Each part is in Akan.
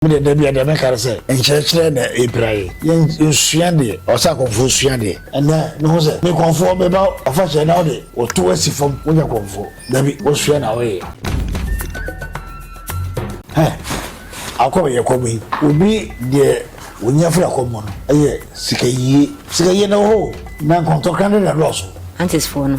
Me deɛ dabi a deɛ mɛka ne sɛ nkyerɛkyerɛ na ɛpira yɛ. Yɛn nsua deɛ ɔsɛ akɔmfoɔ sua deɛ. Ɛnɛ me hu sɛ me kɔmfoɔ me ba ɔfakyɛ na wode wo to asi fam wo nyɛ kɔmfoɔ dabi wo sua na wo yɛ. Hɛ akɔ yɛ kɔm yi obi deɛ wo nya firi akɔm mu no ɛyɛ sika yie sika yie na wɔ hɔ o na nkɔntɔkra no na ɛdɔɔso. Aunties foɔ no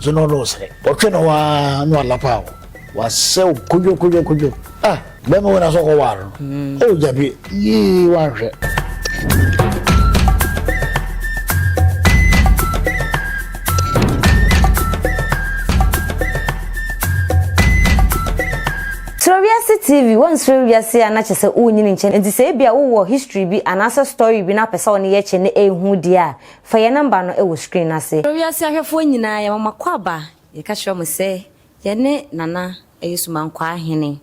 Dze no no srɛ. Ɔtwe no hɔ ara na ɔalapa wo. Ɔasɛw kodwo kodwo kodwo. Ah! Bɛrima wei na sɛ ɔkɔwar no. Oh Gyabie, yii wɔannhwɛ. Kyerɛ Wiase TV, Wɔnserɛ wiase a na kyerɛ sɛ wonnyin nkyɛn, enti sɛ ebia wowɔ history bi anaasɛ story bi na wopɛ sɛ wo ne yɛkyɛ na ehu deɛ a, Fa yɛn nɔmba no wɔ screen no ase. Frɛ wiase ahwɛfoɔ nyinaa, yɛma mo akwaaba, yɛka kyerɛ mo sɛ yɛne Nana ɛyɛ Sumankwaa Hene,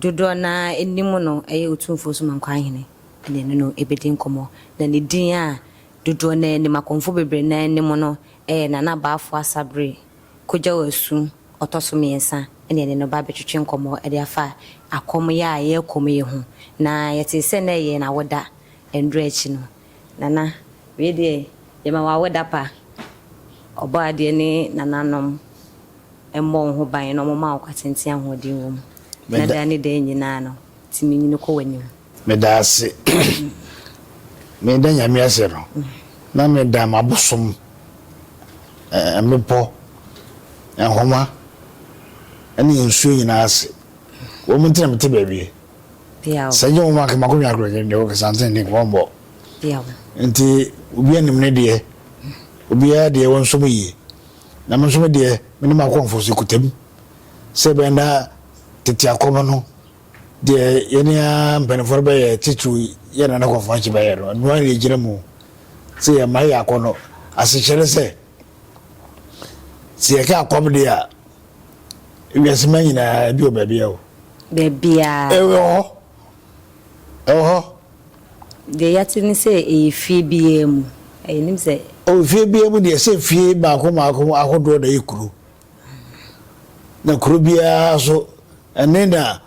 dodoɔ no ara anim no ɛyɛ Otumfoɔ Sumankwaa Hene na ɛne no ɛbɛdi nkɔmmɔ, na ne din a dodoɔ no ara anim, akɔmfoɔ bebree no ara anim no ɛyɛ Nana Baafoɔ Asabere Kwadwo Asu ɔtɔ so mmiɛnsa na yɛne no ba abɛtwetwe nkɔmmɔ de afa akɔm yɛ a yɛrekɔm yi ho, na yɛtee sɛ na ɛyɛ n'awoda nnora akyi no. Nana, wei deɛ yɛma wo awoda pa. Ɔbɔadeɛ ne nananom mmɔ wo ho ban na wɔma wo kwatenten ahoɔden wom, na daa ne daa nyinaa no, tumi nyini kɔ w'anim. Meda ase. Meda Nyame ase no, na meda m'abosom, mmepɔ, nhoma, ne nsuo nyinaa ase. Wɔn nti na mete baabi Bia o. Sɛ nyɛ wɔn a kɛ makɔhwɛ akorɔkyere deɛ ok santen deɛ nka wɔnbɔ. Bia o. Nti obiara nim ne deɛ obiara deɛ wɔnso me yie na me nso me deɛ me ne m'akɔmfo so kuta mu sɛ ɛbɛyɛ na tete akɔm no deɛ yɛne a mpanimfoɔ no bɛyɛ titiriw yɛ na ne kɔmfo akyi bɛyɛ no ɛno ara na ɛgyina mu sɛ yɛ mma yɛ akɔnnɔ asekyerɛ sɛ sɛ yɛka akɔm deɛ a Wiase ma nyinaa, ebi wɔ baabi a o. Baabiara. Ɛwɔ hɔ. Ɛwɔ hɔ. Deɛ yɛate ne sɛ ɛyɛ fie biara mu. Yɛnim sɛ. O fie biara mu deɛ sɛ fie mmaako mmaako ahodoɔ na ɛyɛ kuro. Na kuro biara so ɛne na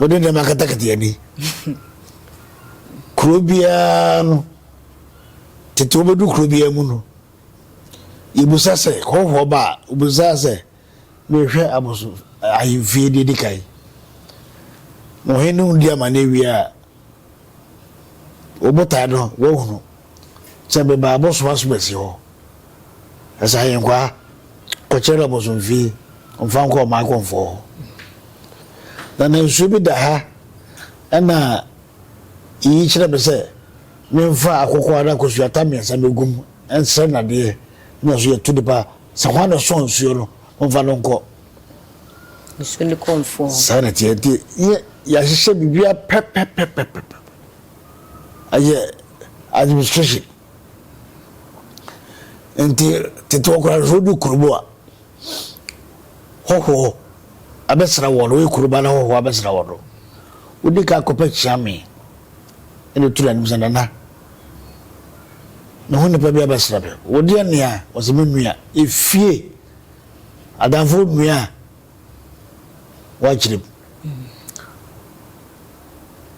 wɔde nneɛma akatakata ani. Kuro biara no, tete wɔbɛdu kuro biara mu no. Yɛbisa sɛ, Hɔhoɔ ba a, wobisaa sɛ, Merehwɛ aboso ahemfie deɛ ɛdi kan. Mo hene no di amanneɛ wie a, wo botae no woahunu. Sɛ meba abosom asomasi hɔ. Ɛsɛ ahenkwaa kɔkyerɛ no abosomfie, ɔmfa nkɔ ɔman kɔmfoɔ hɔ. Na nansuo bi da ha, ɛna iyi kyerɛ me sɛ, Memfa akokɔ anaa kosuata mmiɛnsa mmɛgu mu nsrɛ nnadeɛ na nso yɛto nnipa sɛ hwan na ɔsɔɔ nsuo no, momfa no nkɔ. Nsuo no kɔ mfuo hɔ. Saa na ɛteɛ nti yɛ yɛahyehyɛ biribiara pɛpɛpɛpɛpɛ. Ɛyɛ administration. Nti tete hɔ koraa sɛ wodu kurom a hɔhoɔ abɛsra wɔn no, woyɛ kurom a na hɔhoɔ abɛsra wɔn no, wodi kan kɔpɛ kyeame. Ɛna otu n'anim sɛ, Nana, me ho nipa bi abɛsra me. Wo deɛ nea? Ɔse, Me nua. Efie adamfoɔ nua a wakyerem.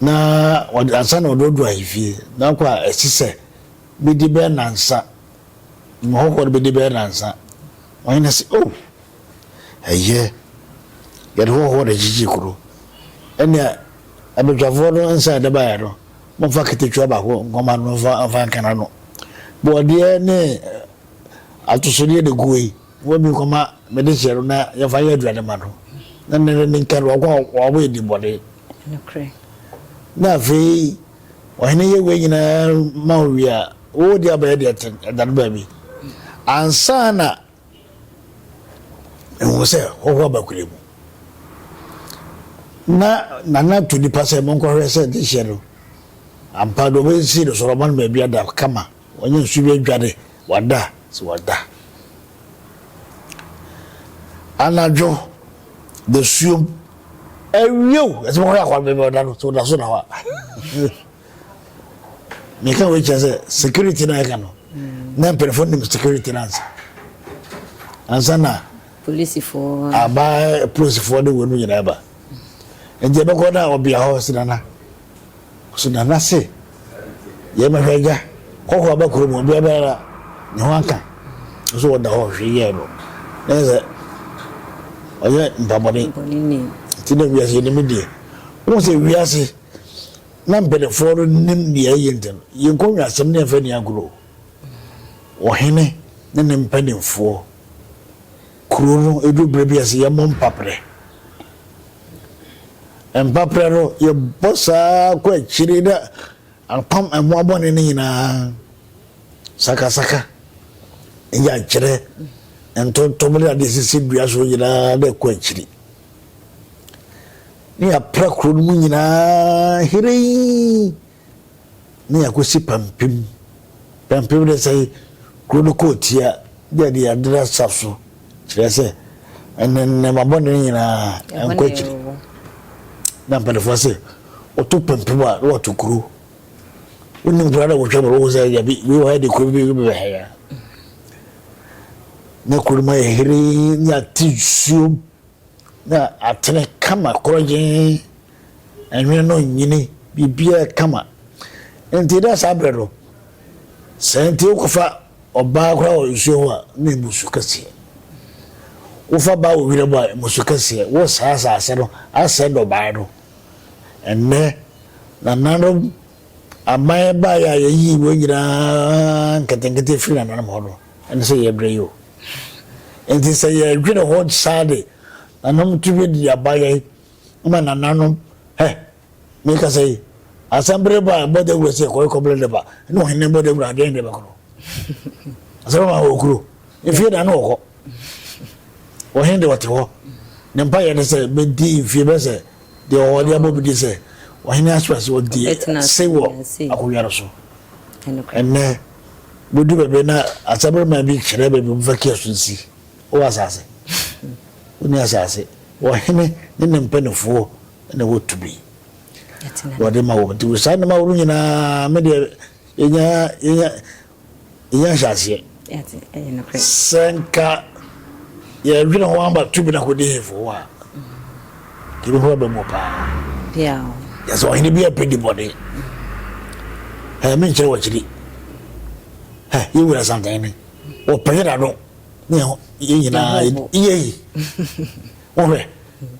Na ɔde ansa na ɔde ɔdu ahemfie. Na ɔkɔ a ɛsi sɛ bedi bɛyɛ nansa. Mmɔhɔhoɔ no bedi bɛyɛ nansa. Ɔhene se, Oh, ɛyɛ. Yɛde hɔhoɔ na gyigye kuro. Ɛnea Abadwafoɔ no nsa a ɛde baeɛ no, momfa katakyiwa baako nkɔma no mfa mfa nka n'ano. Bɔɔdeɛ ne atosodeɛ na ɛgu hɔ yi, momfa bi nkɔma me dehyeɛ no na yɛmfa nyɛ aduane mma no, na ne ne nka no, wɔn a wɔabɔ yɛn din bɔne. Nokorɛ. Na afei ɔhene yɛ wei nyinaa ma wo wie a, wode abɛyɛ deɛ ɛtene, ɛdane baabi, ansa na. Mehu sɛ hɔ hɔ abakura mu. Na Nana to nipa sɛ monkɔhwɛ sɛ ne hyɛ no ampa no wɔbɛsi no sɔrɔma no baabi ada kama wɔnyɛ nsu bi adwane wada sɛ wada. Anadwo da suom. Ɛwiew ɛsɛ monkɔhwɛ akɔnbɛbɛ ɔda no sɛ ɔda so na hɔ a. meka wei kyerɛ sɛ security no a ɛka no na mpanyinfoɔ nim security no ansa ansa na polisifoɔ aba polisifoɔ de wɔn mu nyinaa ba nti ɛbɛkɔ na ɔbea hɔ sinana sinana se yɛn mɛhwɛ agya kɔkɔ aba kurom ɔbea bɛyɛ ne ho aka nso wɔda hɔ hwɛ yɛ no na yɛ sɛ ɔyɛ mpabɔne nti na wiase yɛ ne mu deɛ wɔn sɛ wiase. Na mpanimfoɔ no nim deɛ ɛyɛ nti no, yɛn nkɔnwasɛm ne ɛmfa nni agorɔ o. Ɔhene ne ne mpanimfoɔ, kuro no ɛduru berɛ bi a ɛsɛ yɛmmɔ mpaprɛ. Mpaprɛ no yɛbɔ saa kɔ akyire na apam mmoa bɔne no nyinaa, sakasaka, nyankyerɛ, ntontom ne adeɛ sisi dua so nyinaa na ɛkɔ akyiri. na yɛapra kuro no mu nyinaa hirei na yɛakɔsi pampem pampem de sɛ kuro no kɔɔ tia de ɛde yɛadera sa so kyerɛ sɛ ɛne nneɛma bɔne no nyinaa ɛnkɔ akyiri na mpanimfoɔ sɛ wɔto pampem a na wɔto kuro wonim kura na wɔhwɛ mmerɛ wo sɛ yabi wei wɔ ha de kuro bi bɛbɛha ya ne kuro no mu ayɛ heree ne ate nsuom na atene kama korɔgyee ɛnwene no nyini biribiara kama nti na saa berɛ no sɛ nti wokɔfa ɔbaa koraa wɔ nsuo ho a na ɛmu su kɛseɛ wofa baa wɔ wira mu a ɛmu su kɛseɛ wo saa asase no asɛ dɔbaa no ɛnnɛ nananom Aman baeɛ a yɛyii wɔn nyinaa nketenkete firii nananom hɔ no ne sɛ yɛbrɛ yi o. Enti sɛ yɛdwene ho saa de, nanom tumi de aba yɛn ma nananom, hɛ, mekasa yi, asɛm bere ba a, bɔ dawura sɛ kɔe kɔbrɛ ne ba, ne ohene bɔ dawura a, deɛn ne bɛkɔ no? Asɛm ama wɔ kuro, mfie na ne ɔkɔ. Ohene de ɔte hɔ, ne mpaeɛ ne sɛ, medi mfie bɛsɛ Deɛ ɔwɔ deɛ bɔ bi di sɛ ɔhene Asuerus ɔdi ase wɔ akonnwa no so ɛnnɛ. Bɛdu baabi na asaberema bi kyerɛ baabi wɔmfa kiasu nsi. Wowɔ asase? Wonni asase. Ɔhene ne ne mpanimfoɔ na ɛwɔ tumi wɔde ma wɔn. Nti saa nneɛma ahorow nyinaa me deɛ yɛnya yɛnya yɛnya nhyɛaseɛ. Sɛ nka yɛdwene ho ama tumi no akɔdi hemfo hɔ a, tumi ho bɛbɛ mu paa. Yɛ sɛ ɔhene bi apɛ di bɔne. Ɛyɛ me nkyerɛ wɔkyiri. Yɛwura santane wɔpɛyɛ n'ano ne yɛn nyinaa yɛ yi. Wohwɛ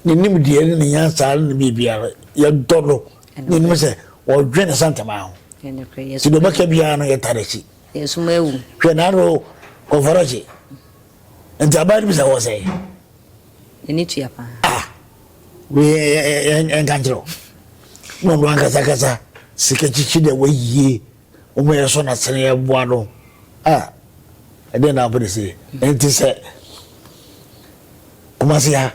ne nimdeɛ ne ne nyansa ne biribiara yɛdɔ no Yɛnim sɛ wɔdwen nsantamaa ho, nti deɛ ɔbɛka biara no yɛtare akyi. Hwɛ naano kɔnfɔrɔgye nti aban no bi sɛ wɔ sɛ. Yɛne tua paa. Ah, yɛnka nkyerɛ wo. Na ɔno ankasakasa sika kyikyi deɛ wɔayie. Wɔn yɛ so na sene yɛ boa no. Ah, ɛdɛn na wopɛ de se? Ɛnti sɛ Kumasi ha,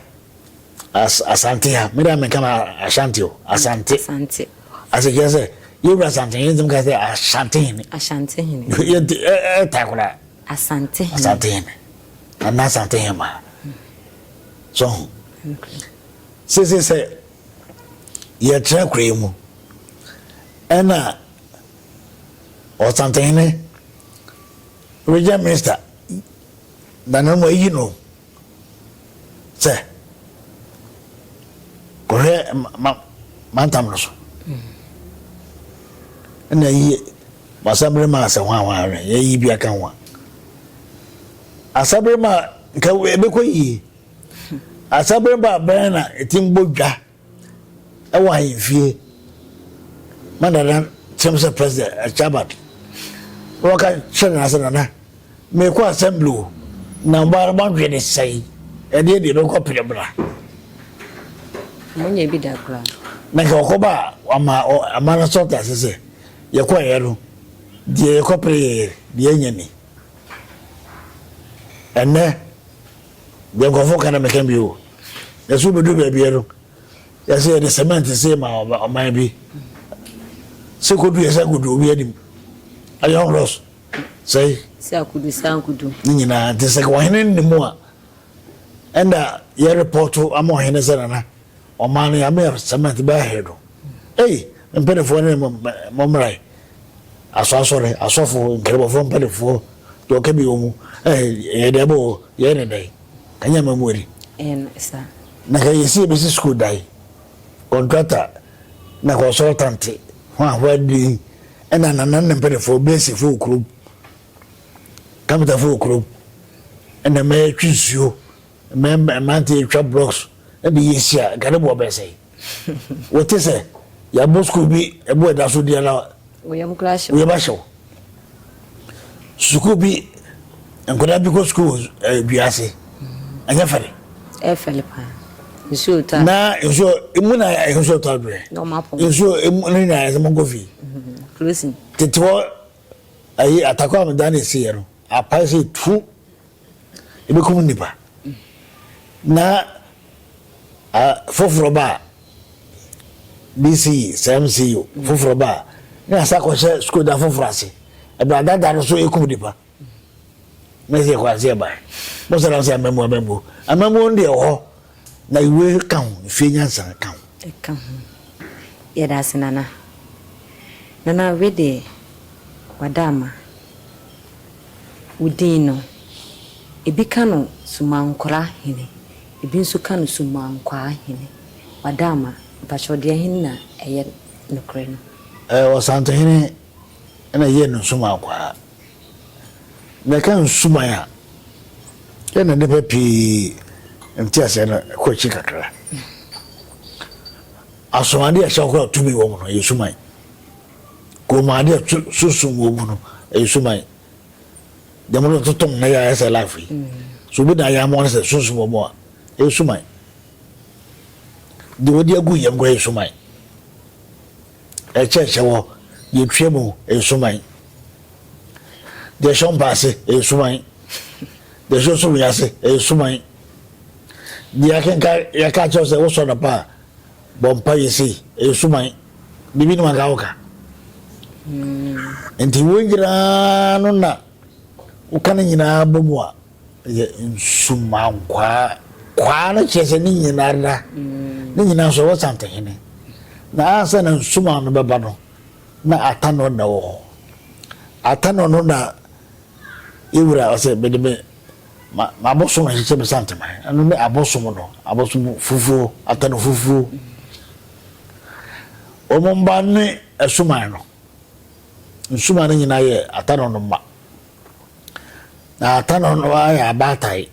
as, Asante ha, me deɛ menka no Ashanti o, Asante. Asante. Ase kyerɛ sɛ, yɛwura Asante, yɛntumi ka sɛ Ashanti hene. Ashanti hene. Yɛnti, ɛta koraa. Asante hene. Asante hene. Ana Asante hene ma. So ho. Sese sɛ, yɛkyerɛ kura yi mu, ɛna Ɔsantehene Regent Minster Dananum ayi no sɛ kɔhwɛ mantam no so ɛna ayi Asabere ma asɛ hwan hwan ahwɛ yɛyi bi aka ho a Asabere ma nka ɛbɛkɔ yie Asabere ba bɛn na ɛtim bɔ dwa Ɛwɔ ahemfie ma Nana kyɛm sɛ President Achabad. Wɔka kyerɛ Nana sɛ, Nana, merekɔ Assembly o, na ɔbaa no moadwene sɛn? Ɛdeɛ deɛ bɛkɔ pene mmra. Monyɛ bi da koraa. Na nka ɔkɔba a, wama ama no sɔta ase sɛ, yɛkɔeɛ no, deɛ yɛkɔpere yɛyɛ, deɛ yɛanya ni. Ɛnɛ. Deɛ nkurɔfoɔ ka na meka bio. Yɛse wobɛduru baabiɛ no, yɛse yɛde cement see ma ɔman bi. Se kodu yɛse akodu obi anim. Ɛyɛ ɔhorɔs. Sɛi. Se akodu se ankodu. Ne nyinaa nti sɛ ɔhene nne mu a, ɛnda yɛrepɔto ama ɔhene sɛ nana, ɔman no yɛameyɛ cement bɛyɛ ahe no. Ei, me mpanimfoɔ ne mo mmarae, asɔasɔre, asɔfo, nkramofoɔ mpanimfoɔ, deɛ ɔka bi wɔ mu, eh, yɛde aba o, yɛyɛ ne dɛn? Ka nyɛ ama mu adi. Ɛyɛ no sa. Na ka yɛsi yɛbɛsi sukuu dan, kɔntrata, na kɔnsɔltante, hwahwa din, ɛna nanan ne mpanimfoɔ, bɛsi fo wɔ kurom, kapita fo wɔ kurom, ɛna mɛtwe nsuo, mɛmɛmante atwa blocks, ɛde yɛsi a, nka ne boɔ bɛsɛe. Wote sɛ yɛabɔ sukuu bi bo a ɛda so di anaa? Wo yam koraa ahyew. Wo yam ahyew. Sukuu bi, nkwadaa bi kɔ sukuu wɔ eh, dua ase. Ɛnyɛ fɛre. Ɛyɛ fɛre paa. Nsuo taa. Na nsuo, emu na nsuo taa dwene. Na ɔmo apɔn. Nsuo, emu no nyinaa ɛsɛ mo nkɔ fie. Closing. Tete hɔ, ayi atakɔ a meda na esi yɛ no, apae sɛ tu. Ebekum nnipa, na foforɔ ba a, BCE, sɛ MCE o, foforɔ ba a, na yɛasa akɔhyɛ sukuu da foforɔ ase. Ɛbɛn ada da no so ekum nnipa. Na ɛsɛ yɛkɔ ase yɛbae. Mose nam sɛ amammuo amammuo. Amammuo no deɛ ɛwɔ hɔ. Na ewe ka ho, efie nyansa ka ho. Ɛka ho. Yɛda ase Nana. Nana wei deɛ wada ama. Wo din no, ebi ka no Sumankora hene, ebi nso ka no Sumankwaa hene. Wada ama. Mpakyɛw deɛ hen na ɛyɛ nokorɛ no? Ɛɛ Ɔsantehene na ɛyɛ no Sumankwaa. Na ɛka nsumae a, yɛnna nnipa pii nteaseɛ no kɔ akyi kakra. Asomadeɛ a ɛhyɛ hɔ a tumi wɔ mu no, ɛyɛ sumae. Kɔnmuadeɛ a sunsum wɔ mu no, ɛyɛ sumae. Dɛm no totom na yɛayɛ sɛ life yi. So obi na ayɛ ama no sɛ sunsum wɔ mu a, ɛyɛ sumae. Deɛ wɔde agu yam kɔ yɛ sumae. Ɛkyɛkyɛ wɔ deɛ twa mu nsuman, deɛ ɛhyɛ ɔmpa ase nsuman, deɛ ɛhyɛ ɔsoro yi ase nsuman. Deɛ akenka yɛka kyerɛw sɛ wosɔ no pa a bɔ mpa yɛ sei nsuman. Bibi no anka woka. Hmm. Nti wo nyinaa no na woka no nyinaa bɔ mu a Yɛ nsumankwaa. Kwaa no kyerɛ sɛ ne nyinara, ne nyinaa nso ɛwɔ Santehene. Na ansa na nsuman no bɛba no, na Atanɔ na wɔ hɔ. Atanɔ no na yɛwura ɔsɛ mede me m'abosom ahyehyɛ me Santeman. Ɛno ne abosom no, abosom fufuo, Atanɔ fufuo. Wɔn mma ne asuman no. Nsuman no nyinaa yɛ Atanɔ no mma. Na ata no no ara yɛ abaatae.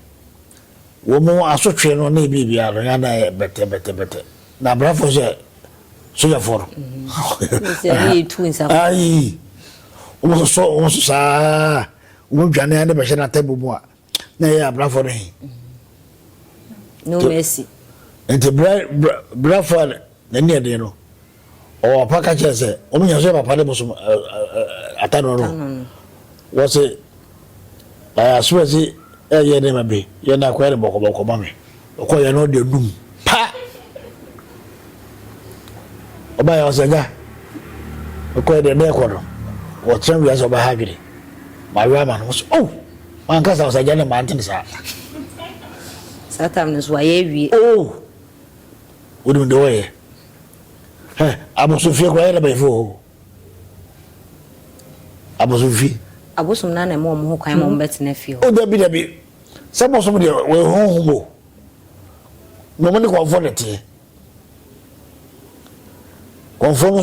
Wɔn asotwe no ne biribiara no, yɛn adan yɛ bɛtɛbɛtɛbɛtɛ. Na abrafo sɛ sogyafoɔ no. Ayi, wɔn soso wɔn so saa, wɔn dwane ara de bɛhyɛ n'atabu mu a, na ɛyɛ abrafo no he. No mercy. Nti brafo a n'ani ɛden no. Ɔwɔ papa ka kyerɛ sɛ wɔn nyinaa so yɛ papa ne bosom atano no. Wɔse ayaso ɛse ɛyɛ nneɛma bi yɛ na akɔyɛ no bɔkɔbɔkɔ ma me. Ɔkɔ yɛ no ɔde dum pa. Ɔba yɛ ɔsɛ gya. Ɔkɔ yɛ deɛ bɛɛ kɔ no. Wɔtena wia sɛ ɔba ha adwene. Ma wia ma no. Wɔse oh ma nkasa ɔsɛ gya ne ma ntene saa. Saa tam no so wayɛ awie. Oh wonim deɛ ɔyɛ. Hɛ, abosomfie koraa yɛ na banyinfo wɔ hɔ o. Abosomfie. Abosom naa na ɛma wɔn ho kwan ma wɔn bɛ tena fie hɔ. O dabi dabi, sɛ bosom deɛ wɔyɛ honhom o, na wɔn ne kɔnfoɔ na ɛteɛ. Kɔnfoɔ no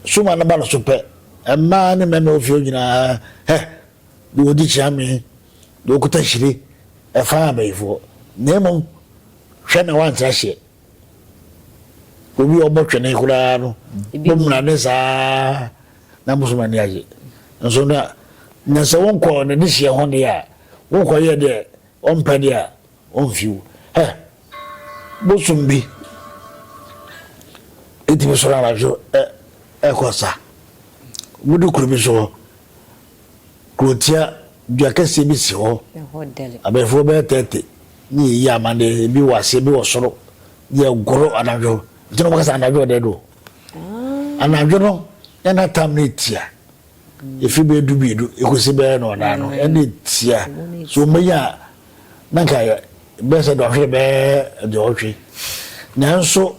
suma no ba no so pɛ, mmaa ne mmarima ofie nyinaa hɛ, deɛ ɔdi kyeame, deɛ ɔkuta hyire, ɛfa abɛyifoɔ. Na mmom, hwɛ na wɔantra hyeɛ. Obi a ɔbɔ twene koraa no bɔmmra ne saa na bosom ani agye nso na na sɛ wonkɔ ne dehyeɛ ho deɛ a wokɔyɛ deɛ ɔmpɛ deɛ a ɔmfiw hɛ bosom bi ɛtumi soro anadwo ɛkɔ sa wode kuro bi so hɔ Kurotia dua kɛseɛ bi si hɔ, abɛɛfoɔ bɛyɛ thirty ne yɛyi amane, ebi wɔ aseɛ, ebi wɔ soro, yɛgoro anadwo, nti na wɔka sɛ anadwo ɔdɛ do. Anadwo no na na tam no tia, ɛfiri bɛyɛ du mmienu ɛkɔsi bɛyɛ no ɔnan no, ɛna tia, so wɔbɛnya a na nka bɛyɛ sɛ dɔnhwere bɛyɛ aduɔwɔtwe, nanso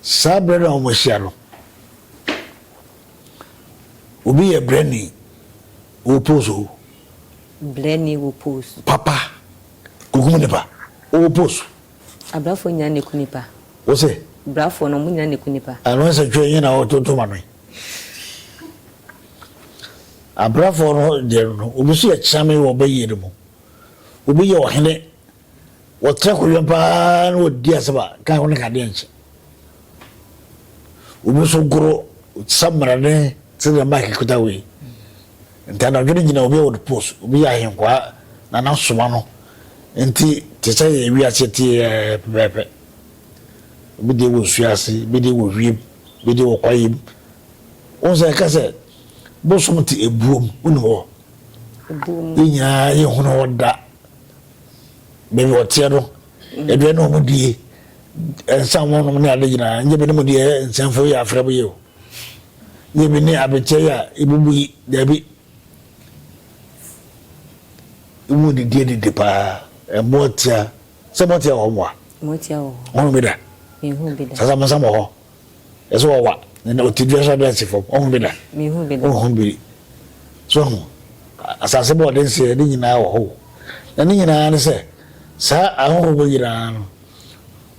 saa berɛ no a wɔhyia no, Obi yɛ brɛni wɔ post o. Brɛni wɔ post. Papa kokum nipa wɔ post. Abrafo nya ne ku nipa. Wo se. Brafo no ɔmo nya ne ku nipa. Ano nsɛ twɛ nye na ɔtonto ma no yi. Abrafo no deɛ no obi so yɛ kyame wɔ bɛyie no mu. Obi yɛ ɔhene Wɔtra hɔ wia pa ara na wɔdi asɛm a ka ho no ka adeɛ nkyɛ. Obi nso goro samina ne te ne maaki kuta wei. Nti anadwo no gyina obi a wɔde post, obi yɛ ahenkwaa na n'asoma no nti te sɛ yɛ wiase te yɛ pɛpɛɛpɛ. Obi deɛ wɔ nsuo ase, ebi deɛ wɔ wiem, ebi deɛ wɔ kwaeɛ mu. Wɔn sɛ ɛka sɛ bosom te ebuom, wonim hɔ. Yɛn nyinaa yɛhunu hɔ da. baabi ɔteɛ no aduane na wɔn die nsa wɔn nom ne ade nyinaa nye bi ne mu deɛ nsɛmfo yɛ afrɛ mu yɛ o nye bi ne abekyɛ yɛ a ebubu yi daabi wɔn didi adidi paa ɛmoa tia sɛ mo tia wɔ hɔ moa wɔn bi da sasa mo nsa mo hɔ. Ɛsɛ ɔwa na na ɔte dua so abɛn ase fam. Ɔhu bi da? Mehu bi da. Ɔhu bi. So ahu? Asase bɔ ɔde nseɛ ne nyinaa wɔ hɔ. Na ne nyinaa ne sɛ saa ahɔhoɔ wɔ nyinaa no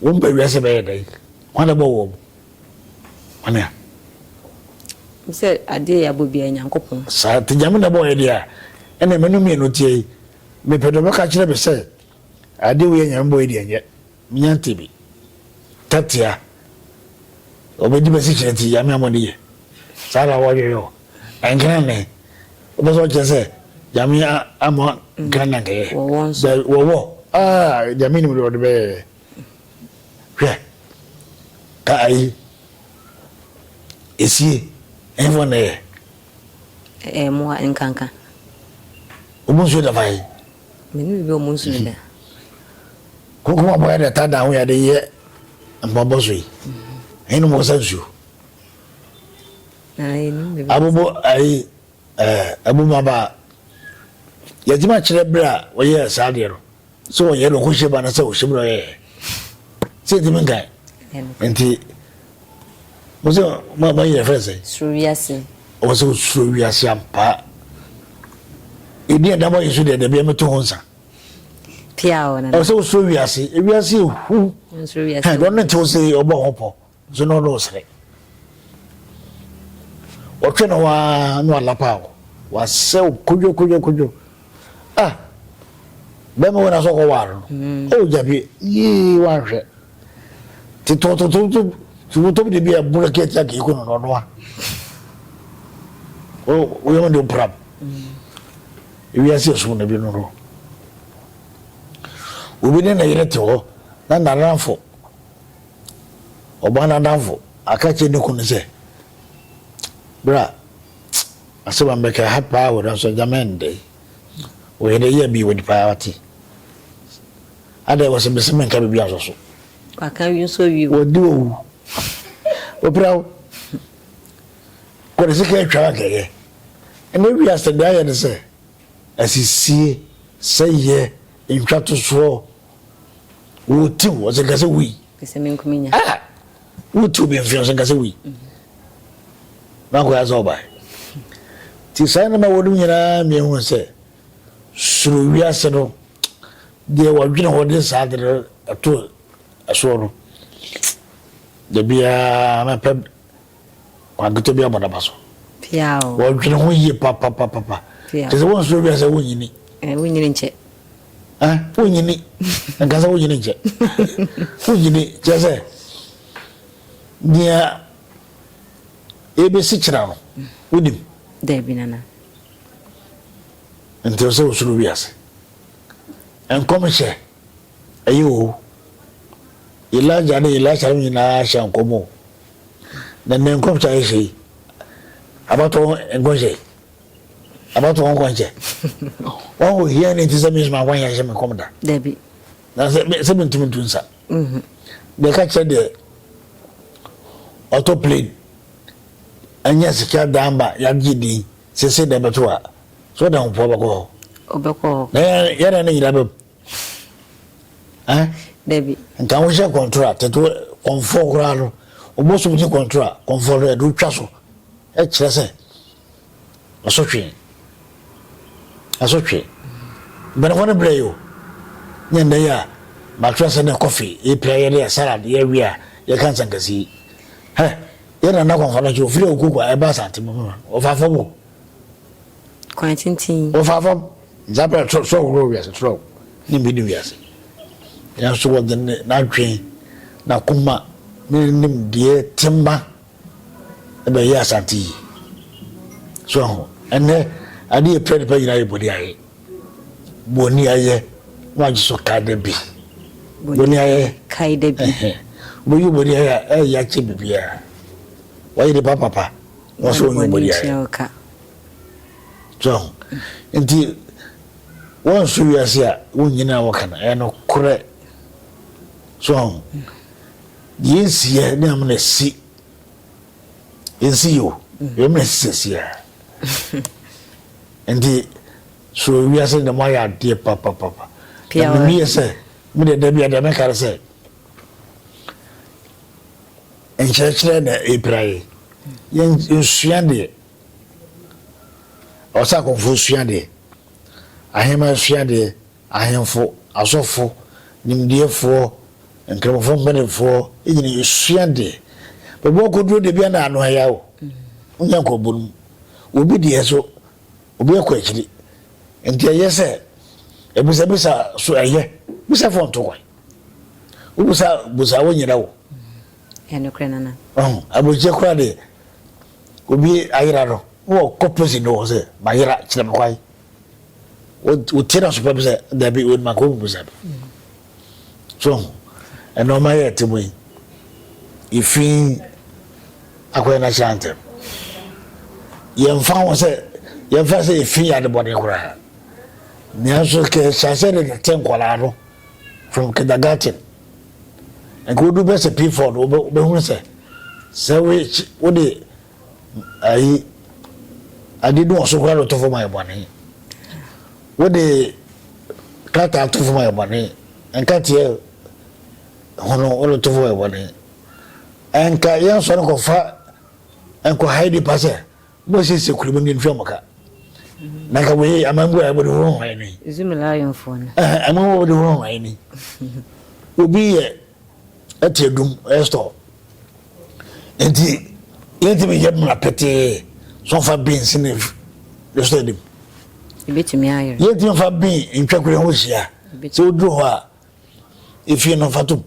wɔn ba wiase bɛyɛ dɛn? Hwan na bɔ wɔn? Hwan a? Sɛ adeɛ yɛ abɔ biara Nyankopɔn. Saa te Nyame na bɔ yɛ deɛ a ɛna menu mmienu teɛ yi mepɛ deɛ ɔbɛka kyerɛ me sɛ adeɛ wei a Nyame bɔ yɛ deɛ nyɛ. Minya ntɛbi tatia ɔbɛdi bɛsi kyerɛ ti yame amɔde yɛ saa na wɔyɛ yɔ ɛnkran ne wobɛ sɛ ɔkyerɛ sɛ yame amɔ nkran na nkɛyɛ wɔwɔ aa yame nim de ɔde bɛyɛ hwɛ ka ayi esie ɛnfɔ na ɛyɛ ɛmoa nkanka obu nsuo dafa yi Me ne biribi a ɔmo nsu no da. Koko mu abɔyɛ deɛ ɛtaa da ho yɛ de yɛ mpaabɔ so yi. Ɛyɛ nom ɔsa nsuo. Na ɛyɛ nim biribi. Abobo ayi ɛɛ abumaba yɛgye ma kyerɛ bere a wɔyɛ saa deɛ no sɛ wɔyɛ no ɔkɔhyɛ ba no sɛ ɔhyɛ mu na ɔyɛ sɛ ɛtumi nkae nti. Wosɛ ɔmo a wɔayɛ fɛn sɛ. Soro wiase. Ɔwɔ sɛ osuro wiase ampa. Edi a dabɔ yɛ so deɛ dabi ɛmɛto ho nsa. Pia ɔno. Ɔwɔ sɛ osuro wiase. Ewiase ehu. Nsoro wiase. Hɛn ɔno ntew sɛ ɔbɔ ho pɔ nso na ɔno ɔsrɛ. Ɔtwe no waa no alapa o. Wasɛ o kodwo kodwo kodwo. Ah bɛrima wɔ na sɛ ɔkɔ waar no. Mm. O oh, gyabi yee wanhwɛ. ti tɔ tɔtɔ tɔ tumu tɔ bi de bi a bula kɛ tia k'i ko nɔ nɔ o o yɛmɛ de o pram i bi ase sun ne bi nɔ nɔ o bi ne na yɛrɛ tɛ hɔ na na nan fɔ o ba na nan fɔ a ka cɛ ne kun ne sɛ bra ase ma bɛ kɛ ha paa wɛrɛ sɔ jamɛ n dɛ o yɛrɛ yɛ bi wɛ di paa wati Adɛn wɔse mese menka biribi ansɔ so. Waka wie nsɔ wie o. Wɔdi owu. Wɔpira wo. Wɔde sika atwa anka ɛyɛ. Ɛnɛ wiase deɛ ayɛ ne sɛ asisie, sɛyɛ, ntwatosoɔ. Wɔti wo ɔsɛ nka sɛ wui. Ɛsɛ me nko menya. Ah! Wɔti obi mfe ɔsɛ nka sɛ wui. Na akɔyɛ sɛ ɔbae. Ti saa nneɛma wɔnom nyinaa mmienu sɛ soro wiase no deɛ wɔdwene hɔ de saa ade no ɛto ɛsoɔ no da biara mɛpɛ kwanketɔ bi abɔ naba so wɔdwene ho yie papapapapa te sɛ wonsoro wiase wonyini eh, wonyini nkyɛ eh, wonyini nka sɛ wonyini nkyɛ wonyini kyɛ sɛ nea ɛbɛsi kyerɛ no wonim daabi nana Nti ɔsɛ osuro wiase. Nkɔmhyɛ ɛyɛ o. Elijah ne Elisha no nyinaa hyɛ nkɔm o. Na nnɛ nkɔmhyɛ a yɛhyɛ yi, abatoɔ nkɔnhyɛ yi, abatoɔ nkɔnhyɛ. Wɔn wɔ hia ne nti sɛ mesoma nkɔnhyɛ hyɛ me nkɔm da. Dabi. Na sɛ sɛ mentumi ntu nsa. Mhm. Deɛ ɛka kyerɛ deɛ ɔtɔ plane, ɛnyɛ sika dan ba, yɛagye din. Sese dɛ bɛto a, so ɔde ahopoa bɛkɔ hɔ? Ɔbɛkɔ hɔ. Na yɛn na ne nyinaa bɛm. Ɛn? Dabi. Nka wohyɛ kɔntora, tete kɔnfoɔ koraa no, obosom gye kɔntora, kɔnfoɔ no yɛde otwa so. Ɛkyerɛ sɛ, asotwe. Asotwe. Mpanimfoɔ no brɛ yi o. Nyɛ nnɛ yi a, matwerɛ sɛ ne kɔfe, yɛpira yɛde yɛ salad, yɛawie a, yɛka nsankasi. Hɛ, Yɛ nana kɔ kɔnɔ kye ofiri oko kɔ ɛba asante mu ma ɔfa fam o. Kwan tenten. Ɔfa fam nzapɛ toro toro woro wiase toro ne mbi ne wiase. Yɛn so wɔde ne n'adwen na kuma ne nim deɛ tema ɛbɛ yɛ asante yi. So ɛho ɛnɛ ade yɛ pɛ nipa nyinaa yɛ bɔde ayɛ. Boniayɛ na wagye so kae da bi. Boniayɛ kae da bi. Wobɛyi boniayɛ a ɛyɛ akyɛ biribiara. Wayɛ nipa papa na ɔsɛ ɔnyɛ boniayɛ. So nti wɔnso wiase a wonnyina a wɔka no ɛyɛ no korɛ. So deɛ nsiyɛ ne amena si. yɛnsi yio yɛn mmerɛ si sɛsi a nti so wiase dɛm ayɛ adeɛ papapapa na mimi yɛ sɛ mi deɛ dɛbi adeɛ mi kari sɛ nkyerɛkyerɛ na epira yi yɛn nsua deɛ ɔsɛ akɔnfo sua deɛ ahema sua deɛ. Ahemfo, asɔfo, nimdeɛfoɔ, Nkramofoɔ mpanimfoɔ nyina sua deɛ bɛbɔ akɔduro deɛ bia na ano aya o wonya nkɔbɔ no mu obi deɛ so obi akɔ akyiri nti ɛyɛ sɛ ɛbisa bisa so ɛyɛ bisa fɔ nto kwan wobisa busa wo nyina wo ɛnokorɛ nana abɔkyɛ kora deɛ obi ayera no wɔ kɔ pɛsi no wɔ sɛ mayera kyerɛ me kwan wotie no asopam sɛ dabi wei no makɔ mmusa no so ho ɛna ɔma yɛ ɛte mu yi yɛfi akɔyɛ no ahyɛ ntɛm yɛmfa ho sɛ yɛmfa sɛ yɛfi yɛ adebɔne koraa nanso kɛhyɛ sɛ de tete nkwadaa no from kindergarten nka wodu bɛ sɛ pford wobɛhunu sɛ sɛ wode ayi ade no ɔso koraa na ɔto fam ayɛ bɔne wode krataa to fam ayɛ bɔne nkateɛ hono wode to fam ayɛ bɔne ɛnka yɛnsɔ no kɔfa nkɔhae nipa sɛ mosiesie kuro mu ne ntua mo ka na nka wei amangu a ɛbɔde hoho ayɛ ni ɛma wɔde hoho ayɛ ni obi yɛ ɛte adum ɛyɛ store nti yɛntumi yɛ mmara pɛtee so fa beans ne ne so anim ebetumi ayɛ yɛntumi fa bean ntwa kura ho hyia sɛ woduru hɔ a efie no fatom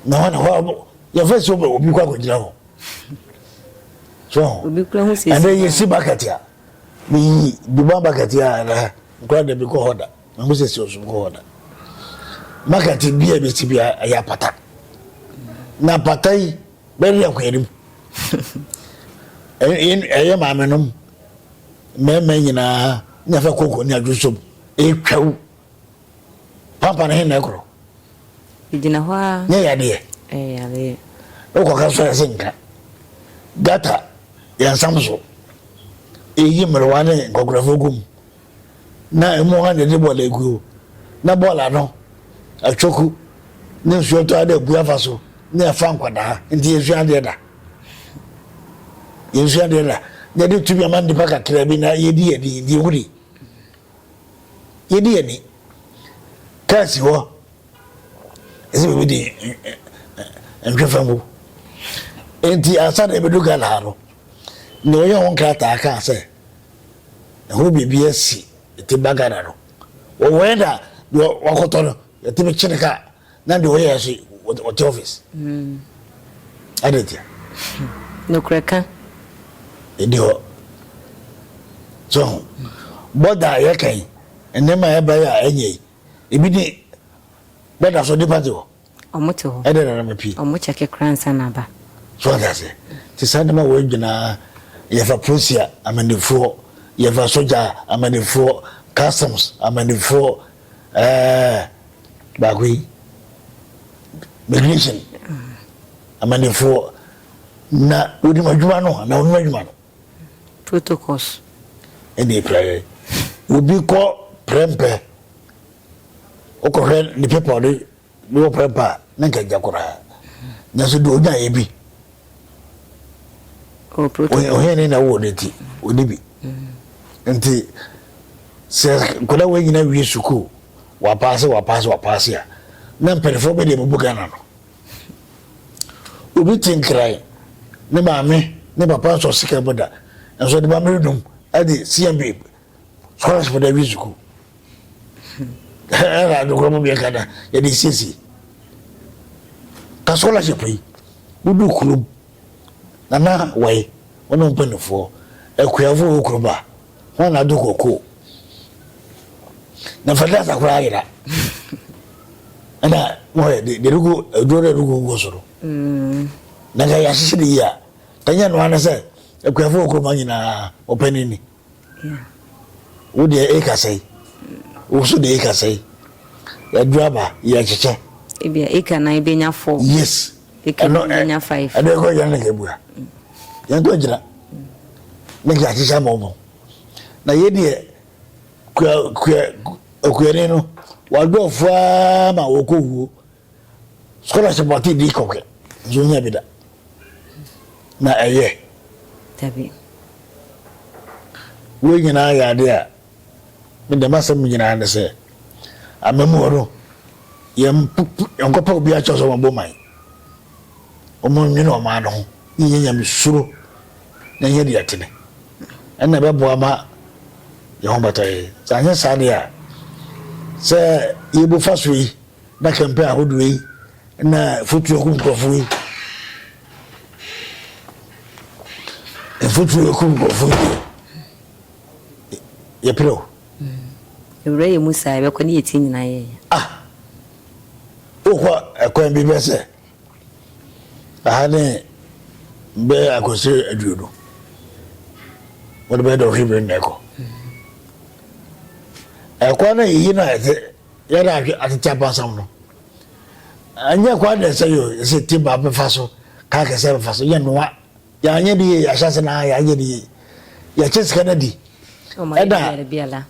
na hɔ na hɔ yɛfɛ sɛ obi kɔ akɔgyina hɔ so ɛnɛ yɛsi bucket a meyi duma bucket a ɛnɛ nkora da bi kɔ hɔ da Na Mose si ɔsom kɔ hɔ da. Maka tebea a ebesi biara ɛyɛ apata. Na apata yi bɛwe akoa no mu. Ɛyɛ maame nom mmarima nyinaa nya fɛ koko ne adwo som etwaw. Pampa no he na ɛkorɔ. Egyina hɔ a. Nyɛ yadeɛ. Ɛyɛ yadeɛ. Wokɔ ka sɔrɔ ɛsɛ nka. Gata yɛn nsam so. Eyi mmerewa ne nkɔkorɔfoɔ gum. na emu hɔ adede bɔɔl aguo, na bɔɔl ano, atwoku, ne nsuo tɔ ara dɛ gu afa so, na ɛfa nkwadaa. Nti yɛnsua adeɛ da. Yɛnsua adeɛ da. Na yɛde tumi ama nnipa kakraa bi na yɛdi yɛn ani, deɛ wuni. Yɛdi yɛn ani. Kaa si hɔ, ɛsɛ biribi di nhwɛ fa ngu. Nti ansa na yɛbɛdu Ghana ha no, nea ɔyɛ ho nkrataa kaa sɛ, Ɛho biribi asi ɛtim ba Ghana no wɔ wɛn da deɛ wakɔtɔ no yɛtumi kye ne ka na deɛ ɔyɛ so ɔte office ɛde hmm. ntia nokorɛ ka ɛdi hɔ so ho bɔda a yɛka yi nneɛma a ɛba yi a ɛnyɛ yi ebi ne bɛda so nipa te hɔ Ɔmo te hɔ. Ɛdɛ na na mepie. Ɔmo kyɛke koraa nsa na aba. So ɔte aseɛ. Te saa nneɛma wɔ adwinaa yɛfa polisia amanifoɔ yɛfa sogya amanifoɔ customs amanifoɔ ɛɛ baako yi migration amanifoɔ na onim adwuma no na onim adwuma no. Protocols. Ɛna ekura yɛ. Obi kɔ prɛmpɛ. wokɔhwɛ ne pepɔ no ne wɔ prɛmpa a na nka gya koraa nanso de ɔnyaeɛ bi ɔhene na wowɔ no nti ɔni bi nti sɛ nkɔda wɔ nyina wie sukuu wapaase wapaase wapaase a na mpanimfoɔ bɛde abubu ghana no obi te nkran ne maame ne papa nsɔ sika mu da nso de maame redum ɛde cmb France fo na ɛwi sukuu ɛna adokora mu mmiɛnka na yɛde siesie ka scholarship yi wodu kurom na na wɔye wɔn ne mpanimfoɔ akuafo wɔ kurom a wɔn na ado koko na fertilizer koraa ayera ɛna wɔyɛ de de rugu aduro na rugu gu so no mm. na nka yɛahyehyɛ ne yie a kanyɛ noa ne sɛ akuafo wɔ kurom nyinaa wɔpɛ ne ni Wo deɛ e kasa yi. Wo so deɛ e kasa yi. Yɛduru aba yɛ kyekyɛ. Ebi a eka nan ebe nya four. Yes. Eka no ebe nya five. Ɛdɛ kɔ yɛn ne kebua. Yɛn kɔ gyina. Ne kya kyekyɛ ama ɔmo. Na yɛ deɛ kua kua okuani no wadɔɔfo ara ma wɔkɔ wuo Scholarship wɔ ati di kɔkɛ nti ohia bi da na ɛyɛ. Dabi. Wei nyinaa yɛ adeɛ a me deɛ m'asɛm nyinaa ne sɛ amamuo no yɛn nkɔpɛ obi akyɛw sɛ wɔn bɔ man wɔn nwene wɔn ano ho ne nyɛ nyame suro na nyɛ deɛ ɛtene ɛna ɛbɛboa ma yɛn ho bata yɛ sɛ anyɛ saa deɛ a sɛ yɛbu fa so yi Na kɛmpɛ ahodoɔ yi na mfuturo kum nkurɔfoɔ yi. Mfuturo kum nkurɔfoɔ yi. Yɛpere o. Ewura yɛ mu saa yɛbɛkɔ ne yɛti nyinaa yɛ ya. Ah! Wokɔ ɛkwan bi bɛ sɛ aha ne bɛ akɔsiri aduo no wɔde bɛyɛ dɔɔhwe bere na ɛkɔ ɛkwan na yɛyi na ɛte Yɛ na ahwɛ atete abansam no. Ɛnyɛ kwa dɛ sɛ yɛ ɛsɛ ti ba bɛfa so, ka kɛsɛ bɛfa so, yɛ noa. Yɛ anyɛ de yɛ, yɛ ahyɛ ase na yɛ anyɛ de yɛ. Yɛ kye sika na di. Ɛna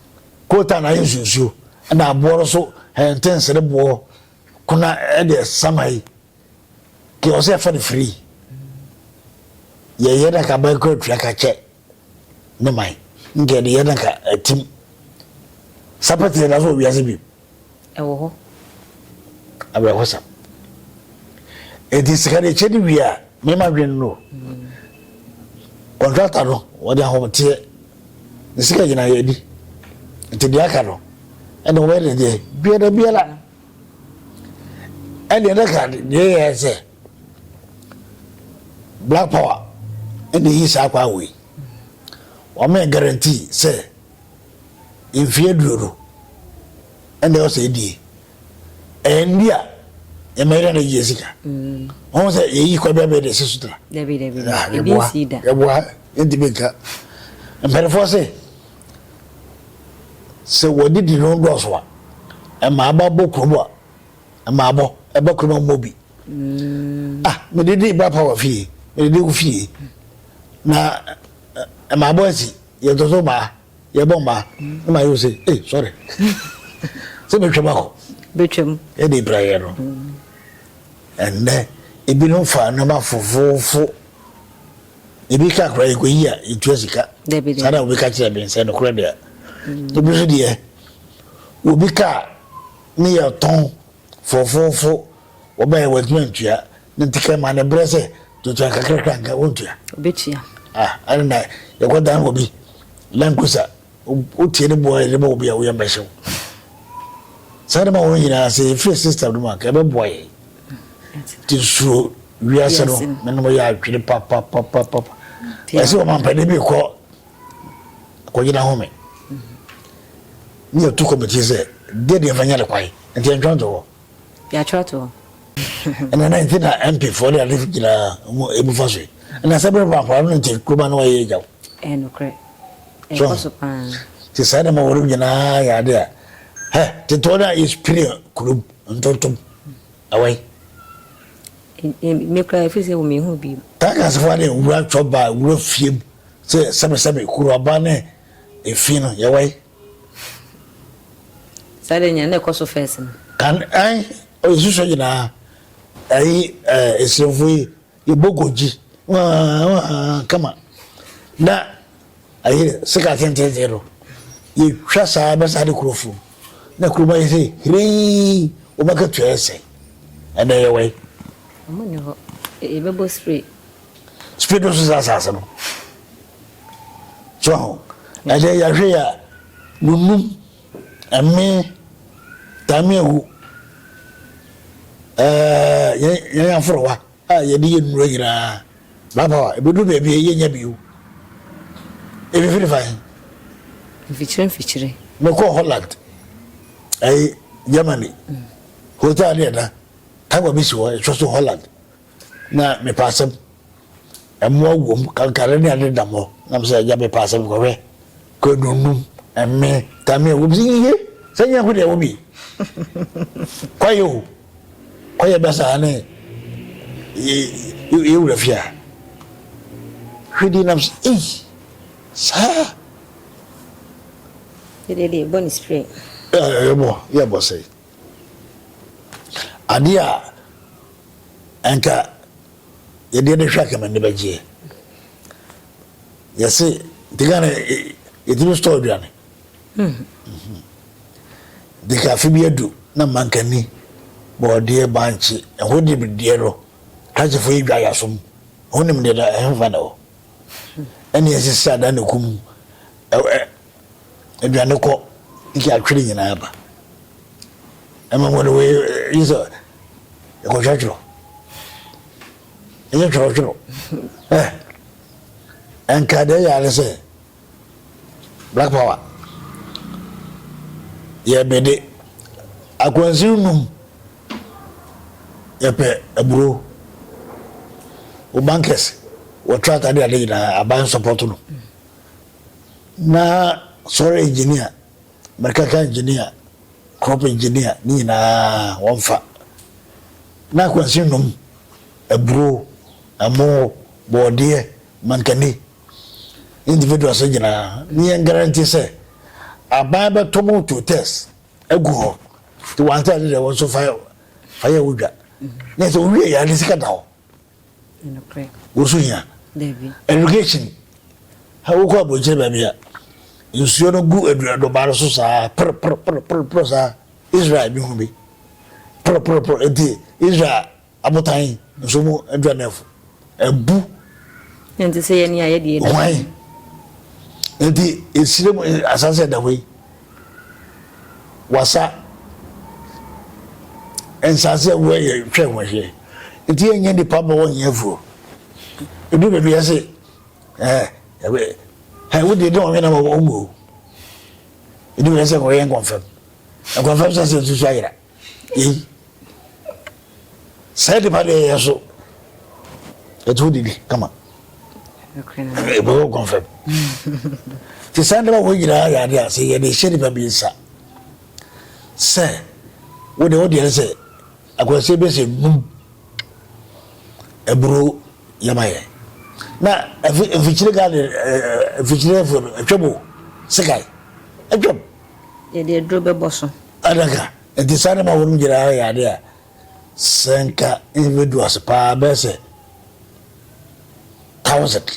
kota na yɛ nsuo nsuo. Ɛna aboɔ no so hɛnte nsere boɔ kona ɛde ɛsama yi. Deɛ ɔsɛ ɛfa no firi yɛyɛ na ka man kɔ atua ka kyɛ ne man nkɛ de yɛ na ka atim sapɛtɛ na so wiase bi ɛwɔ hɔ awerɛhosɛm ɛti sika de kyɛ de wie a mema dwene no kɔntrata no wɔde ahometeɛ ne sika nyina yɛdi nti deɛ aka no ɛne wɔyɛ deɛ biara biara ɛdeɛ na ka deɛ yɛ sɛ black power ɛna yi saa kwa wei wɔn yɛ guarantee sɛ mfie duro no ɛna ɛwɔ sɛ ɛdie ɛyɛ ndi a yɛma yɛda na yɛ sika wɔn sɛ yɛyi kwa bi abɛɛ de ɛsi so tra yɛboa yɛntumi nka mpanifoɔ sɛ Sɛ w'adidi no dɔɔso a, ɛma aba bɔ kurom a, ɛma abɔ ɛba kurom a mmɔ bi. Mm. Ah, medidi ba pa wɔ fie, medidi wo fie. Na ɛma abɔ asi, yɛtoto mmaa, yɛbɔ mmaa, ne ma yɛ se, eh, sorry. Sɛ bɛtwam akɔ. Bɛtwam. Ɛde bra yɛ no. Ɛnnɛ, ebinom fa nneɛma fofoofo Ebi ka koraa yɛkɔyi a yɛtua sika. Saa na obi ka kyerɛ me sɛ nokorɛ deɛ. Ebi nso deɛ obi ka a ne yɛtɔn fofofo wɔba yɛ wɔntumi ntua ne nti kɛ ma ne brɛ sɛ tutua kakrakra nka wontua. Obɛtua. Ah ɛne na yɛkɔdan obi Land Cruiser. Wotie ne boa a yɛde ma obi a wo yam bɛhyew. Saa nneɛma wɔn nyinaa sɛ yɛfiri system no mu a ɛbɛboa yɛn. Nti nsuro wiase no menom yɛ adwene papapapapa. Ɛsɛ ɔmampanin bi kɔ akɔgyina home ne yɛtu kɔmitie sɛ deɛ deɛ mfa nyɛ ne kwae nti ɛntwa nto hɔ. Yɛatwerɛ ato hɔ. Ɛna na nti na MP foɔ de ade nyinaa wɔn ebu fa so yi. Ɛna sɛ bere baa akwadaa no nti kuruma no wɔyɛ agya o. Ɛyɛ nokorɛ. Ɛkɔ so paa. Nti saa nneɛma wɔrem nyinaa yɛ ade a hɛ tetewɔ no a yɛspiri kurom ntontom awai. Me koraa ɛfiri sɛ wɔ mehu bi. Takas foɔ ade wura twɔ baa wura fiem sɛ sɛbesɛbe kuruaba ne efi no yɛwai. Saa deɛ nyɛ na ɛkɔ so first no. Kan ɛn ɔyɛ susuɛ nyinaa ɛyi ɛɛ esiremfo yi yɛ bɔ gogyi waan waan kama na ɛyi sika tententen no yɛ twa saa bɛ saa de kuro fom na kuro ma yɛ sɛ hirii wɔn aka tua yɛ sɛ ɛnɛ yɛ wɛn. Wɔn ni hɔ yɛ bɛ bɔ spray. Spray dɔ so saa asaase no. So ho? Ɛdeɛ yɛhwɛ yi a, nunum, ɛme, tameahu, ɛɛ yɛn aforowa a yɛde yɛ nnuro nyinaa, baabawa, ɛbɛduru baabi a yɛnya bio. Ɛfifiri fa he? Mfikyire mfikyire. Mekɔɔ Holland, ɛyi Germany, hotel ne ɛda, table bi si hɔ, ɛtwa so Holland. Na mepɛ asɛm. Mmoa wom, kankare ne ade dam hɔ. Na mesɛ, Agya, mepɛ asɛm. Kɔhwɛ. Kwadu nnum, ɛme, tamia wom. Sɛ, Yiye! Sɛ nyɛ ho deɛ ɛwɔ bi. Kɔyɛ o. Kɔyɛ bɛ saa ne yɛ wura fie a. Hwɛ di nam sɛ, Ei! Saa! Yɛdeɛ deɛ, bɔ ne spray. Ɛɛ, yɛbɔ, yɛbɔ sɛi. Adeɛ a anka yɛde yɛn ani hwɛ anka m'ani bɛgyeɛ. Yɛse nti Ghana yɛtumi store aduane. De ka afe bi adu na mankani bɔɔdeɛ bankye ɛho de deɛ no krakyefo yi dwa yasom ho nim deɛ da ɛhefa na hɔ ɛne ɛsisi adan ne kum aduane kɔ nti atwere nyinaa ba ɛma mo no wei yi sɛ ɛkɔtwɛtwerɛ ɛyɛ twerɛtwerɛ ɛ ɛnka deɛ yɛ ane sɛ black power yɛbede akwansiw num yɛpɛ aburo wo bankɛse wɔtra atade ade nyinaa aban sɔpɔto no Na soil engineer, mechanical engineer, crop engineer ne nyinaa wɔmfa. Na akwansin nom, aburo, ɛmo, bɔɔdeɛ, mankani, individuals no nyinaa. Ne yɛn guarantee sɛ aban bɛtɔ mo to test agu hɔ. Nti wɔantɛ ade deɛ wɔn nso fa fa yɛ wo dwa. Ne sɛ wowie yɛ ade sika da hɔ. Woso hia irrigation. Wokɔ abɔnkyere baabi a nsuo no gu aduadoma no so saa poroporoporo saa Israel bi ho bi poroporoporo eti Israel abotan nso mu aduanefo abu. Nti sɛ yɛn ni ayɛ deɛ ɛda. Hwan nti esire mu asase ɛda hɔ yi. wasa nsase a ɛwɔ yɛ twɛ ho ahwɛ nti yɛ nyɛ nipa ma wɔnyɛ afuo edu baabi yɛ se ɛɛ ɛbɛ ɛɛ wodi ɛdi wɔn hwɛ na wɔn mu o edu baabi yɛ sɛ wɔyɛ nkɔnfɛm nkɔnfɛm sɛ sɛ nsusu ayira. Yei, saa nipa deɛ yɛ so ɛte wo didi kama ɛbɛwɔ kɔnfɛm nti saa nneɛma wɔ nyinaa yɛ adeɛ a sɛ yɛde hyɛ nipa bi nsa sɛ wode wodeɛ ne sɛ akwansie bɛsɛ num ɛburo yɛma yɛ na mfikyire gade mfikyire atwam o sekae atwam yɛde aduro bɛbɔ so. Adaka, Ɛte saa na ɛma wɔn nyinaa yɛ ade a sɛ nka ɛbɛdu ase pa ara bɛyɛ sɛ thousand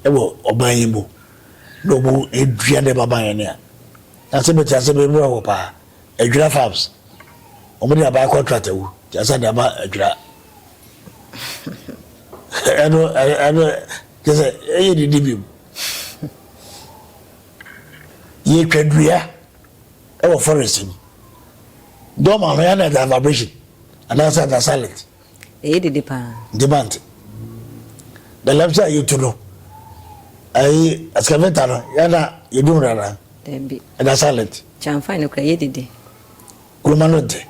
wɔ ɔban yi mu na wɔdua nneɛma ma yɛn a. Na sɛ mete ase me werɛ ho pa ara. Adwira Farms, wɔde aban contract awu nti ansa na ɛma adwira. Ɛno, ɛno, kyerɛ sɛ ɛyɛ didi bi mu. Yɛtwa dua wɔ forest mu. Dɔm ano yɛ na ɛda vibration anaasɛ ɛda silent. Ɛyɛ dede paa. Nti mante. The lamps a yɛtu no ɛyi excavator no yɛ na yɛdum no anaa. Dabi. Ɛda silent. Kyamfan no kura yɛ dede. Kuruma no nte.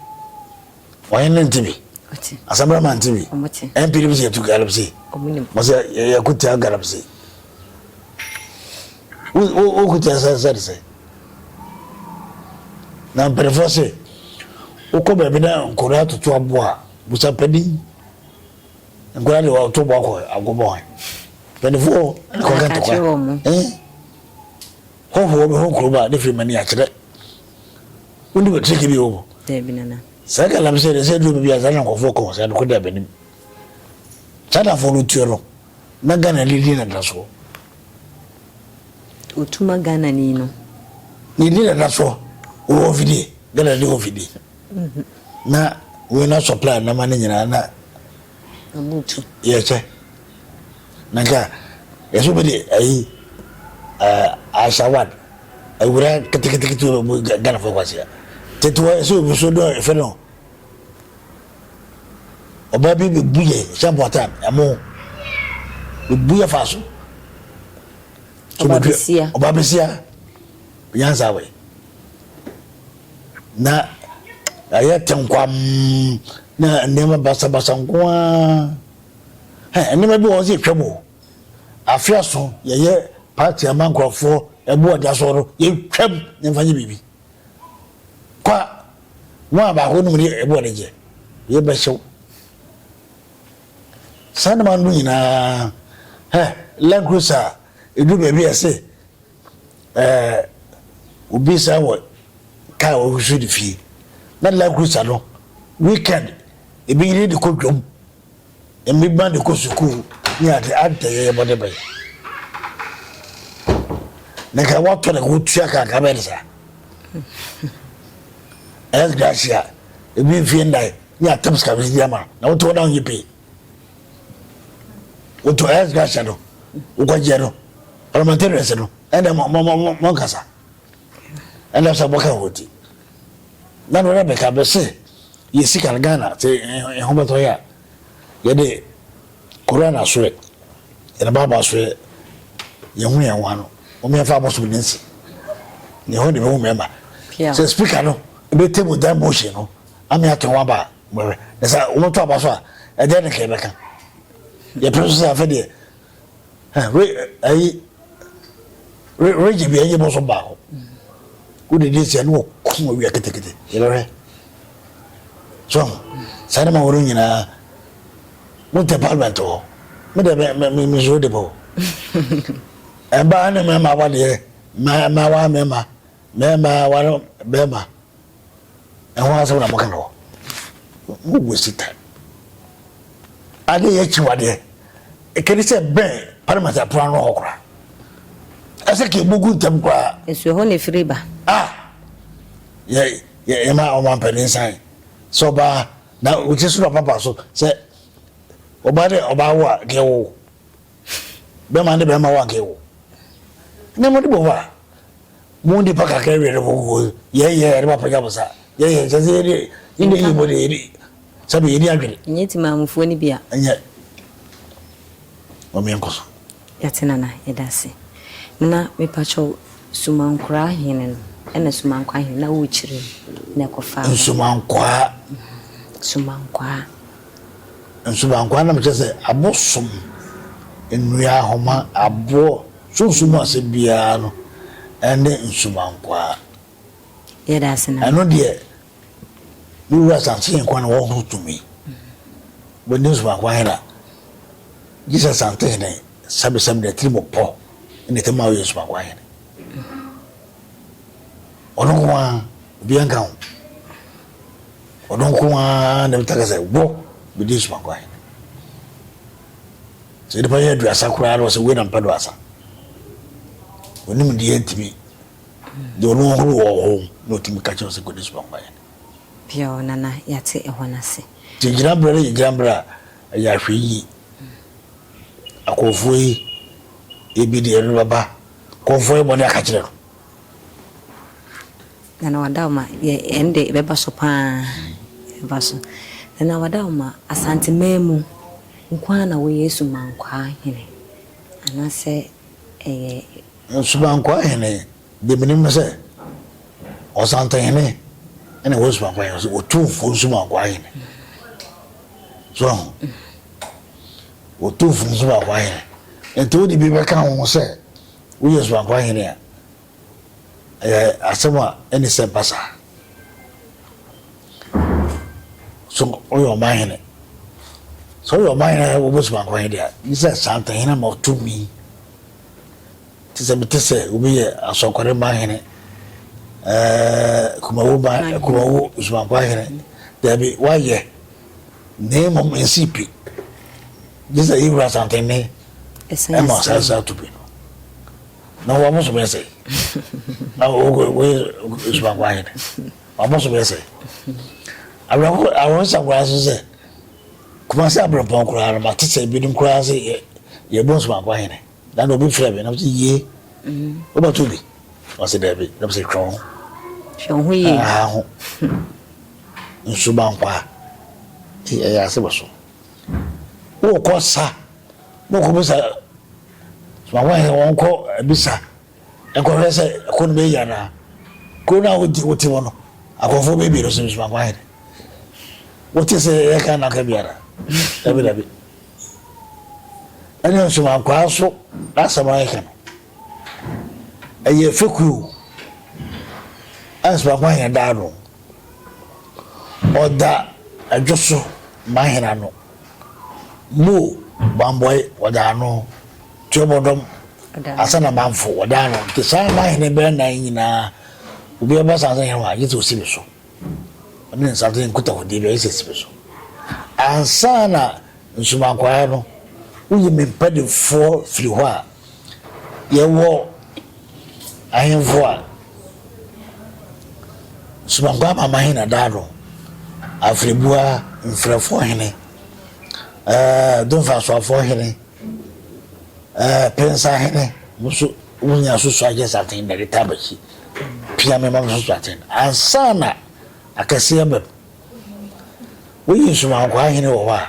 Wɔn no nte bi. Ɔte. Asabrama nte bi. Ɔmo te. Ɛmpiri bi sɛ yɛtu galamsey. Ɔmo nim. Wɔsɛ yɛkutia galamsey. Woku te asase sɛ de sɛ. Na mpanimfoɔ se, wokɔ baabi na nkwadaa toto aboɔ a, busa panin. Nkwadaa de wɔto boɔ akɔ agobɔ hɔ. Mpanimfoɔ na kɔka ntɔkwa. Hɔhoɔ bi ho kurom a ne firi mani akyerɛ. Wonim atiriki bi wɔ mu. Saa galamsey de sɛ duro bi a saa na nkɔfoɔ kɔ saa no kɔ da abanim. Chinafoɔ no tuo no. Na Ghana ni din dada soɔ. Otuma Ghana ni no. Ne din dada soɔ wɔ wɔn fidie Ghana ni wɔn fidie. Na wɔn na supply nama ne nyinaa na. Abutu. Yɛkyɛ. Na nka yɛsɛ obi de ayi asawad awura ketekete ketekete Ghana fo kwasia. Tete wɔ yɛsɛ obi so dɔn efe no. Ɔbaa bi bebu yɛ sɛ mpɔtam ɛmo bebu yɛ fa so. Ɔbaa besia. Ɔbaa besia nyansa wɛ na ɛyɛ tenkwam na nneɛma basabasa nko ara nneɛma bi wɔn sɛ etwa mu afeaso yɛyɛ paati ama nkurɔfoɔ ɛboɔ da so no yɛtwam ne nfa nyɛ biribi. Kwa, wɔn a baako nom ne ɛboɔ de gye, yɛ bɛhyew. Saa nneɛma no nyinaa, hɛ, Land Cruiser a, ɛduru baabi a ɛse, ɛɛ, obi san wɔ kaa a ɔhwehwɛ ne fie. Na Land Cruiser no, weekend, ebi yere de kɔ dwam. emi ba de kɔ sukuu ne ade adɛn yɛyɛ bɔne bɛn na nka wɔatɔ ne ho tua ka nka bɛyɛ ne saa ɛyɛ gracia ebi mfie nnan ne atam sika bi di ama na wotɔ na wonyɛ pii wotɔ ɛyɛ gracia no wokɔgyeɛ no parliamentarians no ɛnna mɔnkasa ɛnna sɛ bɔka ho ti Nana Rebecca bɛ sɛ yɛ sika no Ghana sɛ ɛho bɛtɔ yɛ a yɛde Koran asoɛ yɛde Bible asoɛ yɛhu yɛn ho ano wɔn yɛn fa abɔsom ne nsi ne ho de bɛhu mmarima sɛ speaker no ebe table dan motion no ame ato wɔn aba mɛrɛ na sɛ wɔn to aba so a ɛdeɛ ne kɛɛ bɛka yɛ pere so sɛ afɛ deɛ Re ayi re regye bi ɛnyɛ bɔsɔ baako wode di nsia ne wɔkum awia ketekete yɛbɛhwɛ so saa ne ma wɔno nyinaa wontɛ parliament hɔ medɛ mesuro de bɔ ɛbaa ne mɛma wadeɛ mɛma mɛma mɛma wano bɛma ɛho asɛm na moka no hɔ mo waste time ade yɛ akyiwadeɛ ɛkɛde sɛ bɛn parliament apono ano hɔ koraa ɛsɛ ka ɛbɔgu ntam koraa ɛsuo hɔ ne firi ba ah yɛma ɔma mpɛne nsan sɛ ɔbaa na wokyɛ so na papa so sɛ ɔbaa dɛ ɔbaa wo a deɛ wo bɛma ne bɛma wake wo ne mo de bɔ ba mo de pa kakra wie de mo gugu yɛ yɛ yɛ de ba pagya mo sa yɛ yɛ sɛ sɛ yɛ de yɛ de yi mo de yɛ de sɛ yɛ de adwene. nyɛ ti maamufoɔ ne bia. nyɛ wɔn yɛn kɔ so. yɛte nana yɛda ase na mepakyɛw sumankora hene no ɛna sumankwa hene na wokyerɛ mu na ɛkɔfa. nsumankwaa. sumankwaa. Nsubankwa nam kyerɛ sɛ abo som nnua, ahoma, aboɔ, sunsum mu asɛm biara no ne nsubankwaa. Yɛda ase na. Ɛno deɛ me wura Asantehene nko ara na ɔwɔ ho tumi. Wobɛdi nsubankwaa he na gye sɛ Asantehene sɛbesɛbe de atirimɔpɔ na ɛtɛm a woyɛ nsubankwaa hene. Ɔno nko ara, obiara nka ho. Ɔno nko ara na ɛbɛtumi aka sɛ, Wo, mede asuma kɔ ahene. Sɛ nnipa yɛ aduasa koraa na ɔsɛ wei na mpɛ do asa. Onim deɛ ntumi deɛ ɔno ɔhoro wɔ hɔ na ɔtumi ka kyerɛ sɛ kɔde asuma kɔ ahene. Biaw nana yɛate ɛhɔ no ase. Nti gyinaberɛ no yɛ gyinaberɛ a ɛyɛ ahwɛyie. Akɔmfoɔ yi ebi deɛ ɛno bɛba kɔmfoɔ yɛ bɔne aka kyerɛ no. Nana Wadawma, Yɛ, ɛnde ɛbɛba so pa ara, ɛbɛba so. Nana Wadawma, Asanteman mu nko ara na woyɛ Asumankwaa hene anaasɛ ɛyɛ. Asumankwaa hene deɛ menim ne sɛ Ɔsantehene na ɛwɔ Asumankwaa hene so, Otumfoɔ Nsumankwaa hene. So ahu? Otumfoɔ Nsumankwaa hene. Nti wode bi bɛka ho sɛ woyɛ Asumankwaa hene a. Ɛyɛ asɛm a ɛne sɛ ba saa. So ɔyɛ ɔman hene? Sɛ ɔyɛ ɔman hene a wɔbɛsum akɔ he deɛ, gye sɛ saa ntɛhene ama ɔtumi. Te sɛ mete sɛ obi yɛ asɔkware man hene, kumawo man, kumawo sumankwa hene. Daabi, wayɛ. Na mmom nsii pi. Gye sɛ yɛwura santene ɛma ɔsan saa tumi no. Na wɔn so bɛyɛ sɛ na wɔyɛ subaako ayɛ dɛ wɔn so bɛyɛ sɛ awerɛho awerɛhosa koraa so sɛ kumase abirɛmpɔn koraa no ma te sɛ ebinom koraa sɛ yɛ yɛ bɔ subaako ayɛ dɛ na na obi frɛ mi na mo sɛ yie wobɛto bi wɔsɛ dɛbi na mo sɛ twɛn ho twɛn ho yie aha ho nsubankwa ɛyɛ ase bɔ so wokɔ sa. Mokɔ bisa soma hɔ he wɔnkɔ bisa nkɔhwɛ sɛ ɛko no bɛyi anaa. Kuro no a wodi wote mu no, akɔmfoɔ bɛyɛ mmienu so soma kɔ he de. Wote sɛ yɛyɛ Ghana ka bi anaa? Dabi dabi. Ɛne nsomankwaa nso n'asɛm a yɛka no, ɛyɛ fekue o. Ɛne nsomankwaa he daa no. Ɔda adwo so ma hena no? Mo bambɔe wɔdze ano, tsuabɔdɔm, asan na mamfo wɔdze ano, ntsi saa n'ahɛn bɛyɛ nan nyina, obiara bɛsan adze hɛn hɔ a, gyedɛ osi me so, ɔno ne nsadze nkutahodzi biara gyedɛ osi me so. Ansaana nsumankwae no, wonye me mpadimfoɔ firi hɔ a, Yɛwɔ ahemfo a soronko ama ma hene daa no, Afrɛbua, Mfrɛfoɔ hene, ɛɛ Domfasoafoɔ hene, ɛɛ Pensa hene, mo nso mo nyinaa so so akyɛ saten na ɛde taa bakyi. Pia me ma mo so so aten. Ansa na akɛseɛ bɛm. Woyi nsomankoa hene wɔ hɔ a,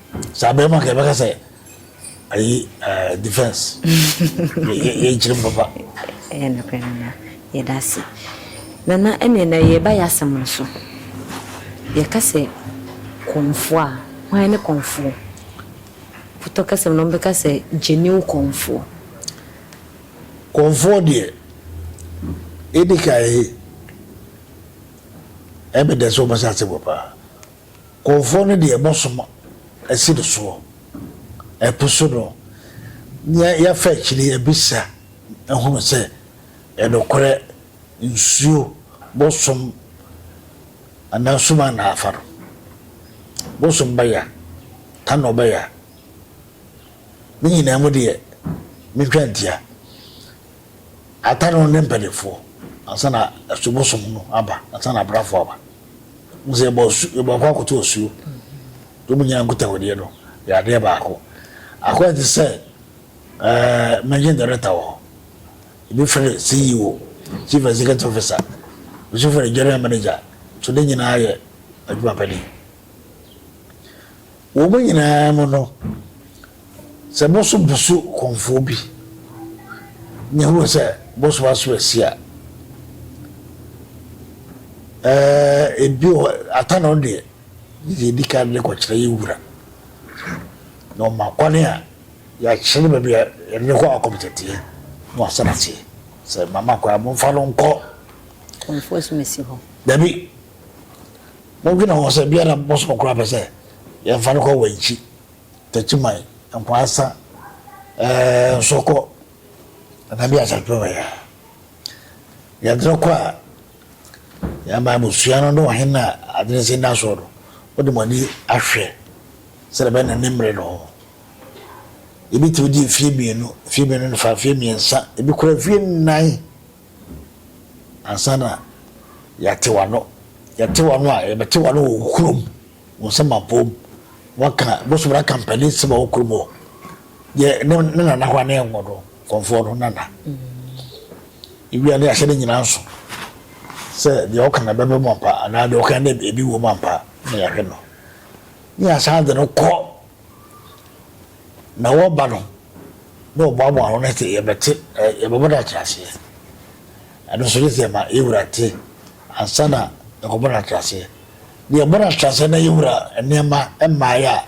saa bɛrima nka ɛbɛka sɛ ayi eh, defense yɛnkyerɛ mu papa ɛyɛ nokorɛ nana yɛda ase nana ɛneɛ na yɛba yɛ asɛm no so yɛka sɛ kɔmfoɔ a hwan ne kɔmfoɔ potɔ kɛsɛm no ɔmbɛka sɛ genuine kɔmfoɔ kɔmfoɔ deɛ ɛdi kae ɛbɛdɛ sɛ wɔbɛsɛ ase wɔ paa Kurɔfoɔ no deɛ mosom asi no soɔ ɛpo so no, na yɛafa akyire abisa ahunu sɛ nokorɛ nsuo mosom anaa sum a na afa no mosom ba ya anaa ɔba ya, ne nyinaa mu deɛ mentwa ntia. Ata no ne mpaninfoɔ ansa na asu bosom no aba ansa na abrafoɔ aba mo sɛ yɛbɔ su yɛbɔ akɔ akoto osuo yɛ mo nyinaa nkutahodie no yɛ adeɛ baako akɔ ɛte sɛ ɛɛ managing director wɔ hɔ ebi fɛrɛ CEO chief executive officer ebi nso fɛrɛ general manager so ne nyinaa yɛ adwuma panin wɔn nyinaa mu no Sɛ bo so busu kɔmfoɔ bi ne hunu sɛ bo so aso asi a, ɛɛ bi wɔ ata na ɔdeɛ yɛ di kan de kɔkyerɛ yɛ wura na ɔma kwane a yɛakyerɛ no baabi a yɛde no kɔ akɔm tɛteɛ na wasan aseɛ sɛ mama kɔ a momfa no nkɔ kɔmfoɔ so masi hɔ dabi modwene ho sɛ biara bɔsɔ koraa pɛ sɛ yɛmfa no kɔ wankyi Takyiman, Nkwaasa, eh, Nsɔkɔ, ɛna bi asatwerɛ wɔ yɛ. Yɛdene kɔ a, yɛma abusua no ne ɔhene a adene si nna soɔ no, wode mo ani ahwɛ sɛdeɛ bɛyɛ na ne mmerɛ no ho. Ebi tumi di mfeɛ mmienu, mfeɛ mmienu ne fa, mfeɛ mmiɛnsa, ebi kora mfeɛ nnan. Ansa na yɛate w'ano, yɛte w'ano a, yɛbɛte w'ano wɔ wo kurom, wo nsɛm abom. Woaka bosom no aka mpanin nsɛm wɔ wo kurom hɔ. Yɛ ne ne nana hɔ a ne yɛnwɔ no, kɔmfoɔ no nana. Ewia ne yɛahyɛ ne nyinaa nso sɛ deɛ ɔka na ɛbɛba mu ampa anaa deɛ ɔka na ebi wɔ mu ampa na yɛahwɛ no. Ne yɛasan de no kɔ Na wɔba no na wɔboaboa ano no sɛ yɛbɛte yɛbɛbɔ no akyerɛaseɛ ɛno nso yɛ sɛ yɛma yɛwura te ansa na yɛkɔbɔ no akyerɛaseɛ na yɛbɔ no akyerɛaseɛ na yɛwura nneɛma mmaeɛ a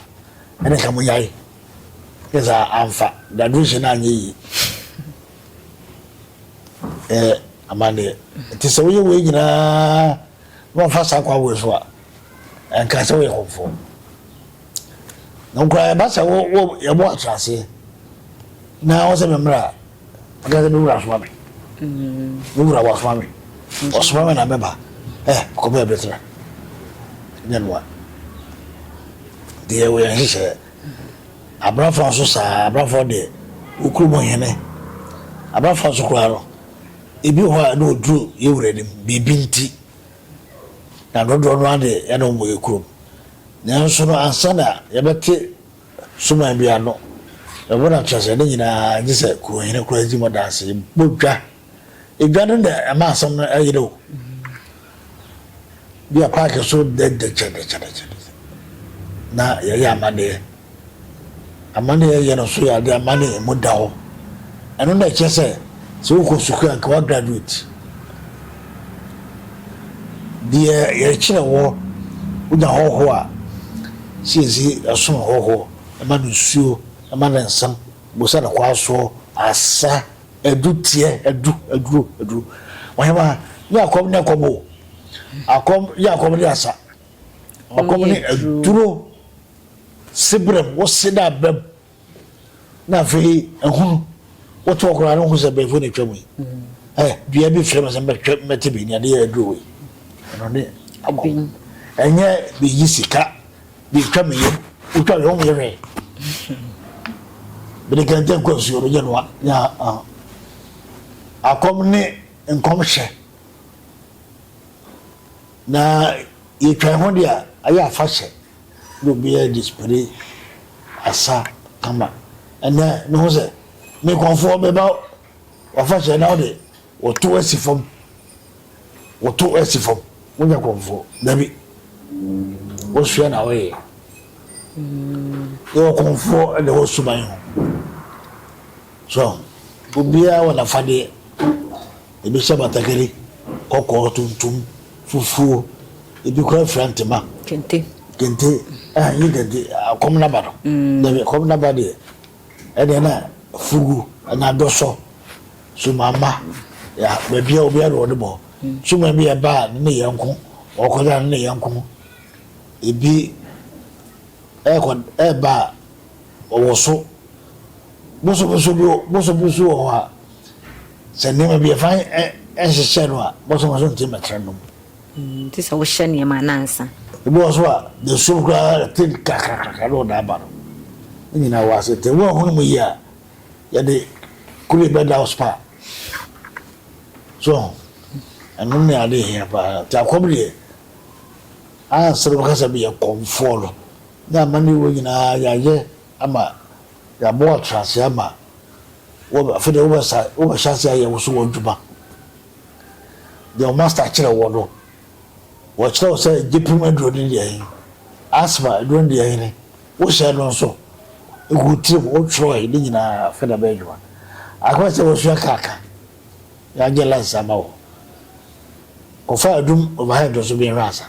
ɛne nka mo nyae yɛ sɛ amfa graduation no anyɛ yie ɛyɛ amanneɛ nti sɛ woyɛ wei nyinaa na wɔmfa saa kwa wei so a ɛnka sɛ woyɛ kɔmfoɔ Na wo koraa ɛba sɛ wo wo yɛbɔ akyerɛaseɛ na wo sɛ me mmra a ɔka sɛ me wura soma me me wura wasoma me ɔsoma me na mɛba ɛ kɔbɛ bɛtena nyɛ noa deɛ wɔyɛ nhyehyɛ abrafoɔ nso saa abrafoɔ deɛ wokuro mu hene abrafoɔ nso koraa no ebi hɔ a na ɔduru yɛ wura nim biribi nti na dodoɔ no ara deɛ ɛna wɔyɛ kurom Nanso no, ansa na yɛbɛte suman bi ano, ɛhɔ na kyerɛ sɛ ne nyinaa, gye sɛ kurohene koraa di mu adanse. Yɛbɔ dwa. Edwa no na ɛma asɛm no yere o. Bi a paake so dɛdɛkyɛdɛkyɛdɛkyɛdɛ na yɛyɛ amaneɛ. Amanneɛ a yɛyɛ no nso yɛ ade a amanneɛ mu da hɔ. Ɛno na ɛkyerɛ sɛ, sɛ wokɔ sukuu a, anka woagraduate. Deɛ yɛkyerɛ wɔ, wonya hɔhoɔ a, sɛ yɛsi ɛsono hɔhoɔ, ɛma no nsuo, ɛma no nsam, bosa no kwasoɔ, asa, adu teɛ, adu, aduro, aduro. Ɔhema, nyɛ akɔm ne ɛkɔm o. Akɔm, nyɛ akɔm ne asa. Ɔkɔm ne aduro. Sebrɛm, wɔse dɛ abrɛm na afei ahunu. Woto hɔ koraa no wohu sɛ abrɛfo na atwa mu yi. Eh, dua bi frɛ me sɛ mbɛhwɛ mbɛte bi nea adeyɛ aduro wei. Ɛno ne abom. Ɛnyɛ beyi sika, betwa me yam, wotwa me wonnyɛ hwee. Mede kɛntɛn kɔ nsuo no, nyɛ noa. Nyɛ ah. Akɔm ne nkɔmhyɛ na yɛtwa ho deɛ a ɛyɛ afahyɛ. na obiara de spray asa kama. Ɛnnɛ, mehu sɛ me nkurɔfoɔ bɛba w'afahyɛ na wode wɔto asi fam. Wɔto asi fam. Wonya kurɔfoɔ. Dabi. Wosua na woyɛ. Yɛwɔ kurɔfoɔ ɛna ɛwɔ suban ho. So obiara wɔ n'afadeɛ? Ebi hyɛ batakari, kɔkɔɔ, tuntum, fufuo, ebi koraa fira ntoma. Kente. Kente, ah, nye kente, akɔm naba no. Mm. Dabi, akɔm naba deɛ, ɛdeɛ na fugu anaa dɔsɔ, sumama, ya, baabi a obiara de wɔde bɔ. Mm. Suma bi ɛba a, ne ne yɛ nko, ɔkɔda ne ne yɛ nko. Ebi ɛkɔ ɛba a, wɔwoso bosobosoo bi bosobosoo wɔ hɔ a, sɛ nneɛma bi ɛfa nhyehyɛ no a, bosobosoo no tumi bɛtra nom. Mm, te sɛ wohyɛ nneɛma anaa nsa. Ebi wɔ so a, na esum koraa te kakrakakra na ɔda aba no. Ne nyinaa wɔ ase. Te woahunu mu yie a, yɛde kure bɛda wo spa. So, ɛno ne ade hia paa. Te akɔm deɛ, ansa na wobɛka sɛ meyɛ kɔmfoɔ no, Ne amane a ɛwɔ nyinaa yɛayɛ ama yɛabɔ atenase ama wo afei deɛ wobɛsa wobɛhyɛ ase ayɛ wo so w'adwuma deɛ wo master kyerɛ wɔ no wɔkyerɛ wo sɛ gyepem aduro ne deɛ he asma aduro ne deɛ hene wohyɛ no nso ɛgu tirim wotwerɛe ne nyinaa afei na bɛyɛ adwuma akɔyɛ sɛ wasua kaaka yɛanyɛ lansa ama wo kɔfa adum overhead nso bɛhwɛ asa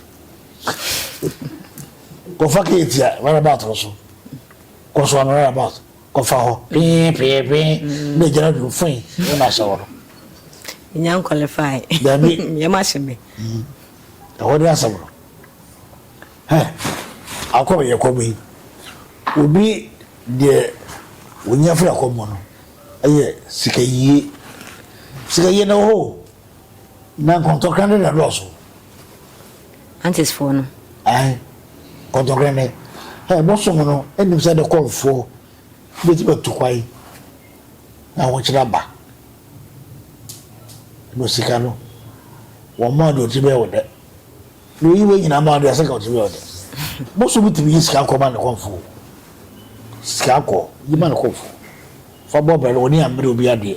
Kɔfa keeti a roundabout no so. Kɔ so ano roundabout. Kɔfa hɔ. Pee pee pee. Na egyina dwom fui ne na ahyɛ hɔ no. Nya nkwalifai. Dabi. Yɛ ma hyɛ me. Ɛhɔ ne asɛm no. Hɛ. Akɔ me yɛ kɔ me. Obi deɛ onya firi akɔ mu no ɛyɛ sika yie. Sika yie na wɔ hɔ o. Na nkɔntɔkra ne na dɔɔso. Antesfoɔ no. Ae, nkɔntɔkra ne. Hɛ, bosom no nim sɛ de kɔmfoɔ bɛtumi atu kwan na ahokyere aba. Na osika no, wɔn mmaa de ɔtumi bɛyɛ ɔdɛ. Na oyi wei nyinaa mmaa de asɛ ka ɔtumi bɛyɛ ɔdɛ. Bosom tumi yi sika kɔ ma ne kɔmfoɔ. Sika kɔ, yi ma ne kɔmfoɔ. Fa bɔ bɛrɛ, ɔne ammere obi adeɛ.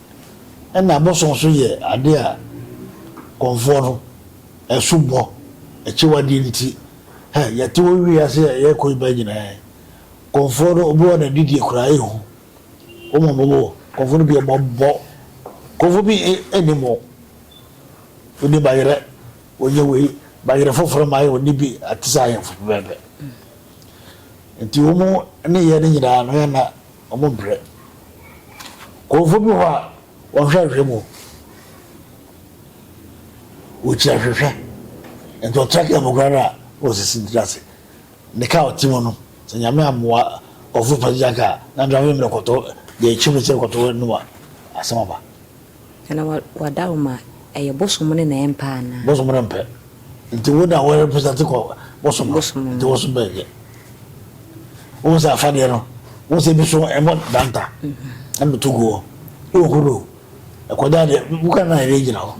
Ɛna bosom nso yɛ ade a Kɔmfoɔ no asubɔ, akyiwadeɛ nti, hɛ, yɛte wɔ wiase a yɛrekɔ yi bɛn nyinaa. Kɔmfoɔ no, obi wɔ na didie koraa ɛhu. Wɔn a wɔwɔ Kɔmfoɔ no bi wɔn bɔ. Kɔmfoɔ bi nnim wɔn. Ɔnni bayerɛ, ɔnyɛ wei, bayerɛ foforɔ ma ayɛ ɔnni bi, ate sɛ ahemfo pɛpɛɛpɛ. Nti wɔn nneyɛɛ no nyinaa no, ɛna. wɔbrɛ. Nkurɔfoɔ bi wɔ hɔ a, wɔhwɛ nhwɛ mu. Wɔkyi ahwehwɛ. Nti ɔtra kaa mu koraa no a, na ɔsisi ne tiri ase. Ne kaa a ɔte mu no, sɛ Nyame ammoa ɔfoforo pa gyina kaa a, na driver no bɛkɔto deɛ ɛkyem no sɛ ɛkɔto no a, asɛm aba. Ana wada hɔ ma ɛyɛ bosom no na ɛmpɛ anaa? Bosom no mpɛ. Nti wo na wo represent kɔ bosom no. Bosom no. Nti wo so bɛn yɛ. Wohu sɛ afadeɛ no, wohu sɛ ebi so ɛmɔ danta, ɛmɔ to guɔ, ɛwɔ kuro, ɛkɔda deɛ, woka na ɛde gyina hɔ.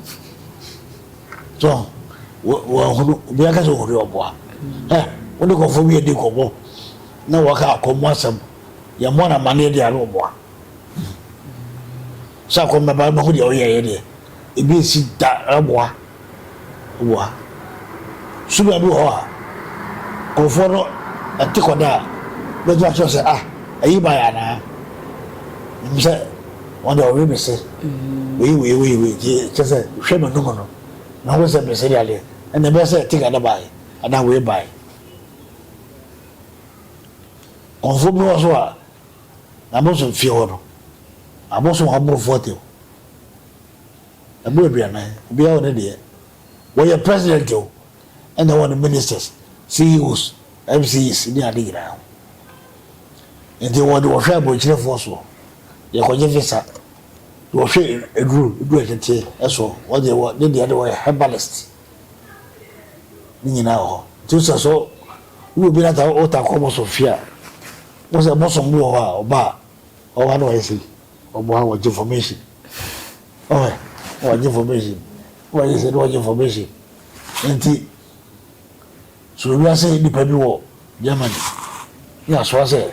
So, wɔahunu, obi aka sɛ ɔhuri ɔboa. Ɛ, wode kɔfoɔ bi adi kɔbɔ, na wɔka akɔmmɔ asɛm, yɛmmɔ no amaneɛ deɛ ano ɔboa. sɛ akɔ mmɛba mmɛhu deɛ ɔyɛ yɛ deɛ ebi nsi da ɛboa ɛboa suga bi wɔ hɔ a nkurɔfoɔ no ɛte kɔ da a bɛtumi akyerɛ sɛ ah ɛyi ba yɛ anaa nim sɛ wɔn deɛ ɔwe bese wei wei wei wei gye kyɛ sɛ hwɛ ma num no na ho sɛ bese deɛ adeɛ ɛna ɛbɛyɛ sɛ ɛte ka da ba yɛ anaa wei ba yɛ nkurɔfoɔ bi wɔ so a Na mo nso mfie hɔ no, abɔso wɔn aborɔfo atɛm. Ɛmu aduanan, obiara wɔ ne deɛ. Wɔyɛ president o, ɛna ɛwɔ ne ministers, CEOs, MCs ne ade nyinaa ho. Nti wɔde wɔhwɛ aburokyerɛfoɔ soɔ, yɛkɔgye visa, de wɔhwɛ aduro, aduro ɛteteɛ soɔ, wɔde wɔ ne deɛ de wɔyɛ herbalist. Ne nyinaa wɔ hɔ. Nti sɛ so wowɔ bi na ta wota kɔ mo so fie a, Wohu sɛ bosom bi wɔ hɔ a, ɔba a, ɔwɔ ha na wayɛ sei, ɔbɔ ha, ɔgye information. Ɔhɛ, na wagye information. Na wayɛ sei, na wagye information. Nti, so wiase nipa bi wɔ Germany, ne asoa sɛ,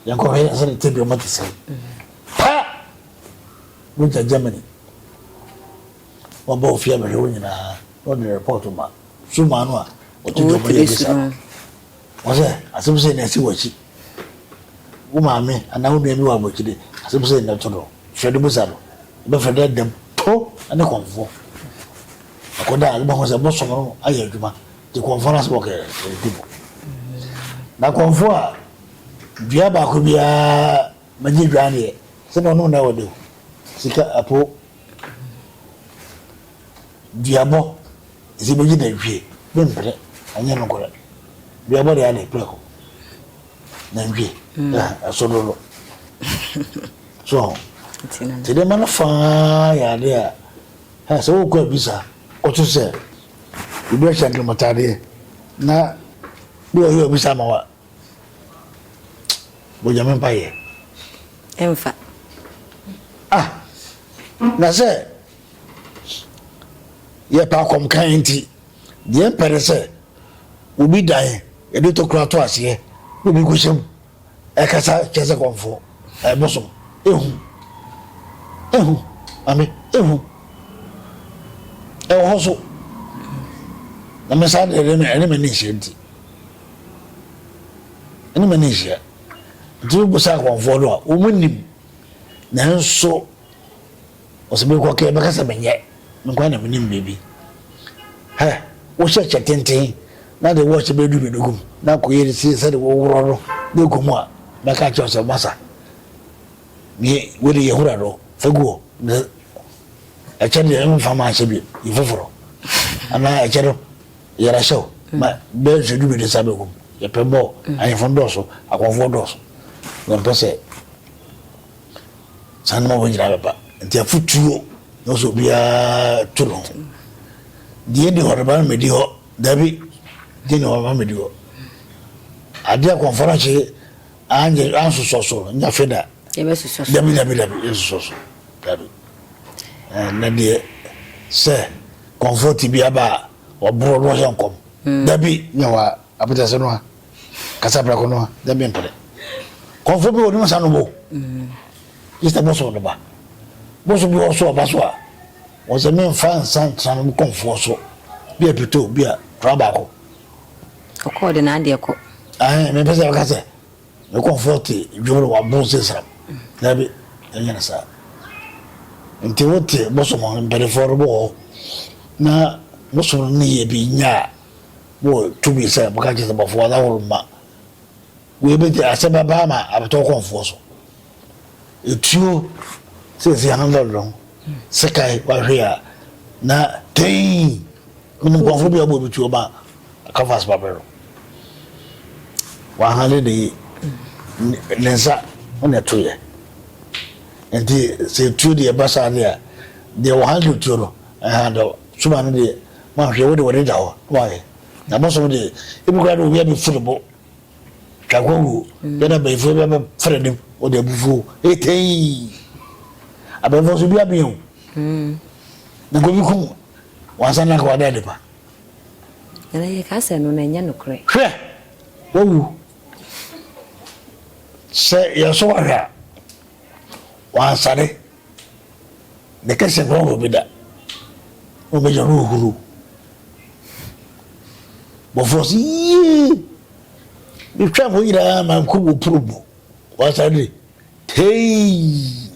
yɛnkɔhwɛ yɛn sɛ ne tebea mu te sɛ. Pa! Wogya Germany. Wɔba ofie abɛhwɛ hɔ nyinaa, na ɔde report ma. Suma no a, ɔte dwom yɛ bisa no. Ɔsɛ, Asɛm sei na asi w'akyi. Wo maame anaa wo nua bi wɔ abɔkyire, asɛm sei na ɛto no. Frɛ no bisa no. Yɛbɛfrɛ no ɛdɛm, po ne kɔmfo. Akɔda a, wobɛhu sɛ bosom no ayɛ adwuma, nti kɔmfo no asɛm ɔka yi, ɛdi mu. Na kɔmfo a, dua baako biara ma gye dwa aneɛ, sɛdeɛ ɔnom na ɛwɔ dɛ o, sika, ɛpo. Duabɔ dze ibegye dɛ Ntwi memmprɛ ɔnnyɛ nokorɛ. Duabɔ de adɛ prɛko na Ntwi so dodo. So ho? Ntsi ndzɛmba no fã yɛ ade a hɛn sɛ wokɔ abisa kɔto sɛ obi hyɛ nkramatadeɛ na bi ɔyɛ ɔbisa ama wo a, bɔ Nyame mpaeɛ. Ɛmfa. Ah! Na sɛ. yɛpɛ akɔmkan nti, deɛ yɛmpɛ ne sɛ obi dan yɛde tokura to aseɛ na obi kɔhyɛ mu ɛkasa kyerɛ sɛ kɔmfoɔ ɛbosom ehu ehu mame ehu ɛwɔ hɔ so na me saa deɛ ɛne m'ani nhyia nti ɛne m'ani nhyia nti wobusa akɔmfoɔ no a wɔn nim nanso Ɔsɛ me kɔ kɛ bɛka sɛ me nyɛ me nkoa na me nim baabi hɛ wo hyɛ kyɛ tenten na de wɔkyɛ bɛ du bɛ dugu mu na kɔ yɛ de sie sɛ de wo worɔ no de kɔ mu a mɛ ka kyɛ ɔsɛ masa me wo de yɛ hura do fɛ guo ne ɛkyɛ de ɛmu fa ma ahyɛ bi yi foforo ana ɛkyɛ do yɛra hyɛ o ma bɛ nso du bɛ de sa bɛ kum yɛ pɛ bɔ ayefo dɔso akɔfoɔ dɔso na mpɛ sɛ Saa na wɔn nyinaa bɛba. Nti afotuo na ɔsɛ obiara to ne ho. Deɛ ɛdi hɔ no ba no medi hɔ. Dabi, deɛ ɛdi hɔ no ba no medi hɔ. Adeɛ a kɔmfɔ no akye anyɛ ansosɔ so no nya fe da. Yɛbɛsosɔ so. Dabi, dabi, dabi, yɛsosɔ so. Dabi. Na deɛ sɛ kɔmfɔ tibia ba a, wɔboro na wɔhyɛ nkɔm. Dabi, nya wɔ a, apɛtɛsɛ no a. Kasa prɛko no a, dɛ me mpɛ dɛ. Kɔmfo bi wɔ no nsa no bo. Easter bɔ so no ba. Bɔ so bi wɔ so ɔba so a, wɔ sɛ me nfa nsa ntra no kɔmfoɔ so. Bi a pito, bi a tora baako. Ɔkɔɔ de n'adeɛ kɔ. Ahe, me pɛ sɛ ɔka sɛ, me kɔmfoɔ te dwom no wa bon se sram. Dabi, ɛnyɛ ne saa. Nti wo te bɔ so mo mpɛdefoɔ no bo hɔ na mo som no ne yɛ bi nyɛ a. Mowɔ tumi sɛ moka kyerɛ sɛ bɔfoɔ na horo mma. Wei bɛti asɛm bɛba ama abɛtɔ kɔnfoɔ so. Etuo sɛsi ano dɔdɔn sekae wahwe a na tei menim kɔnfoɔ bi a ɔbɔ bi tuo ma kafas babrɛ no wahane ne yi ne nsa ho na ɛtoyɛ nti sɛ etuo deɛ ɛba saa deɛ deɛ wɔhandle tuo no ɛhandle Suma no deɛ moanhwɛ wo de wode da hɔ na woahwɛ na abosom deɛ ebi koraa de obi abɛfu ne bo twa nkwa wuo yɛ na bɛyifoɔ bi abɛfra anim wɔde abufuo etei abɛnfoɔ nso bi abea o hmm. na nkobi kum wansa na nka wada ade pa ɛna yɛ ka sɛ no na ɛnyɛ nokorɛ hwɛ wawu sɛ yɛso wahwɛ a wansane Ne kɛse no ɔwɔ bi da. Mo bɛ yɛ no huru. Mo fɔ si yie. Mi twɛ mo nyinaa ma nko mo puru mo. Wasa de tei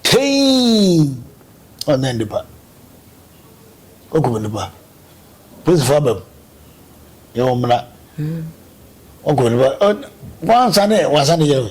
tei ɔnɛ nipa ɔkɔ nipa polisi fo abam yɛ wɔn muna ɔkɔ nipa wɔn ansa ne wɔn ansa ne yɛ no.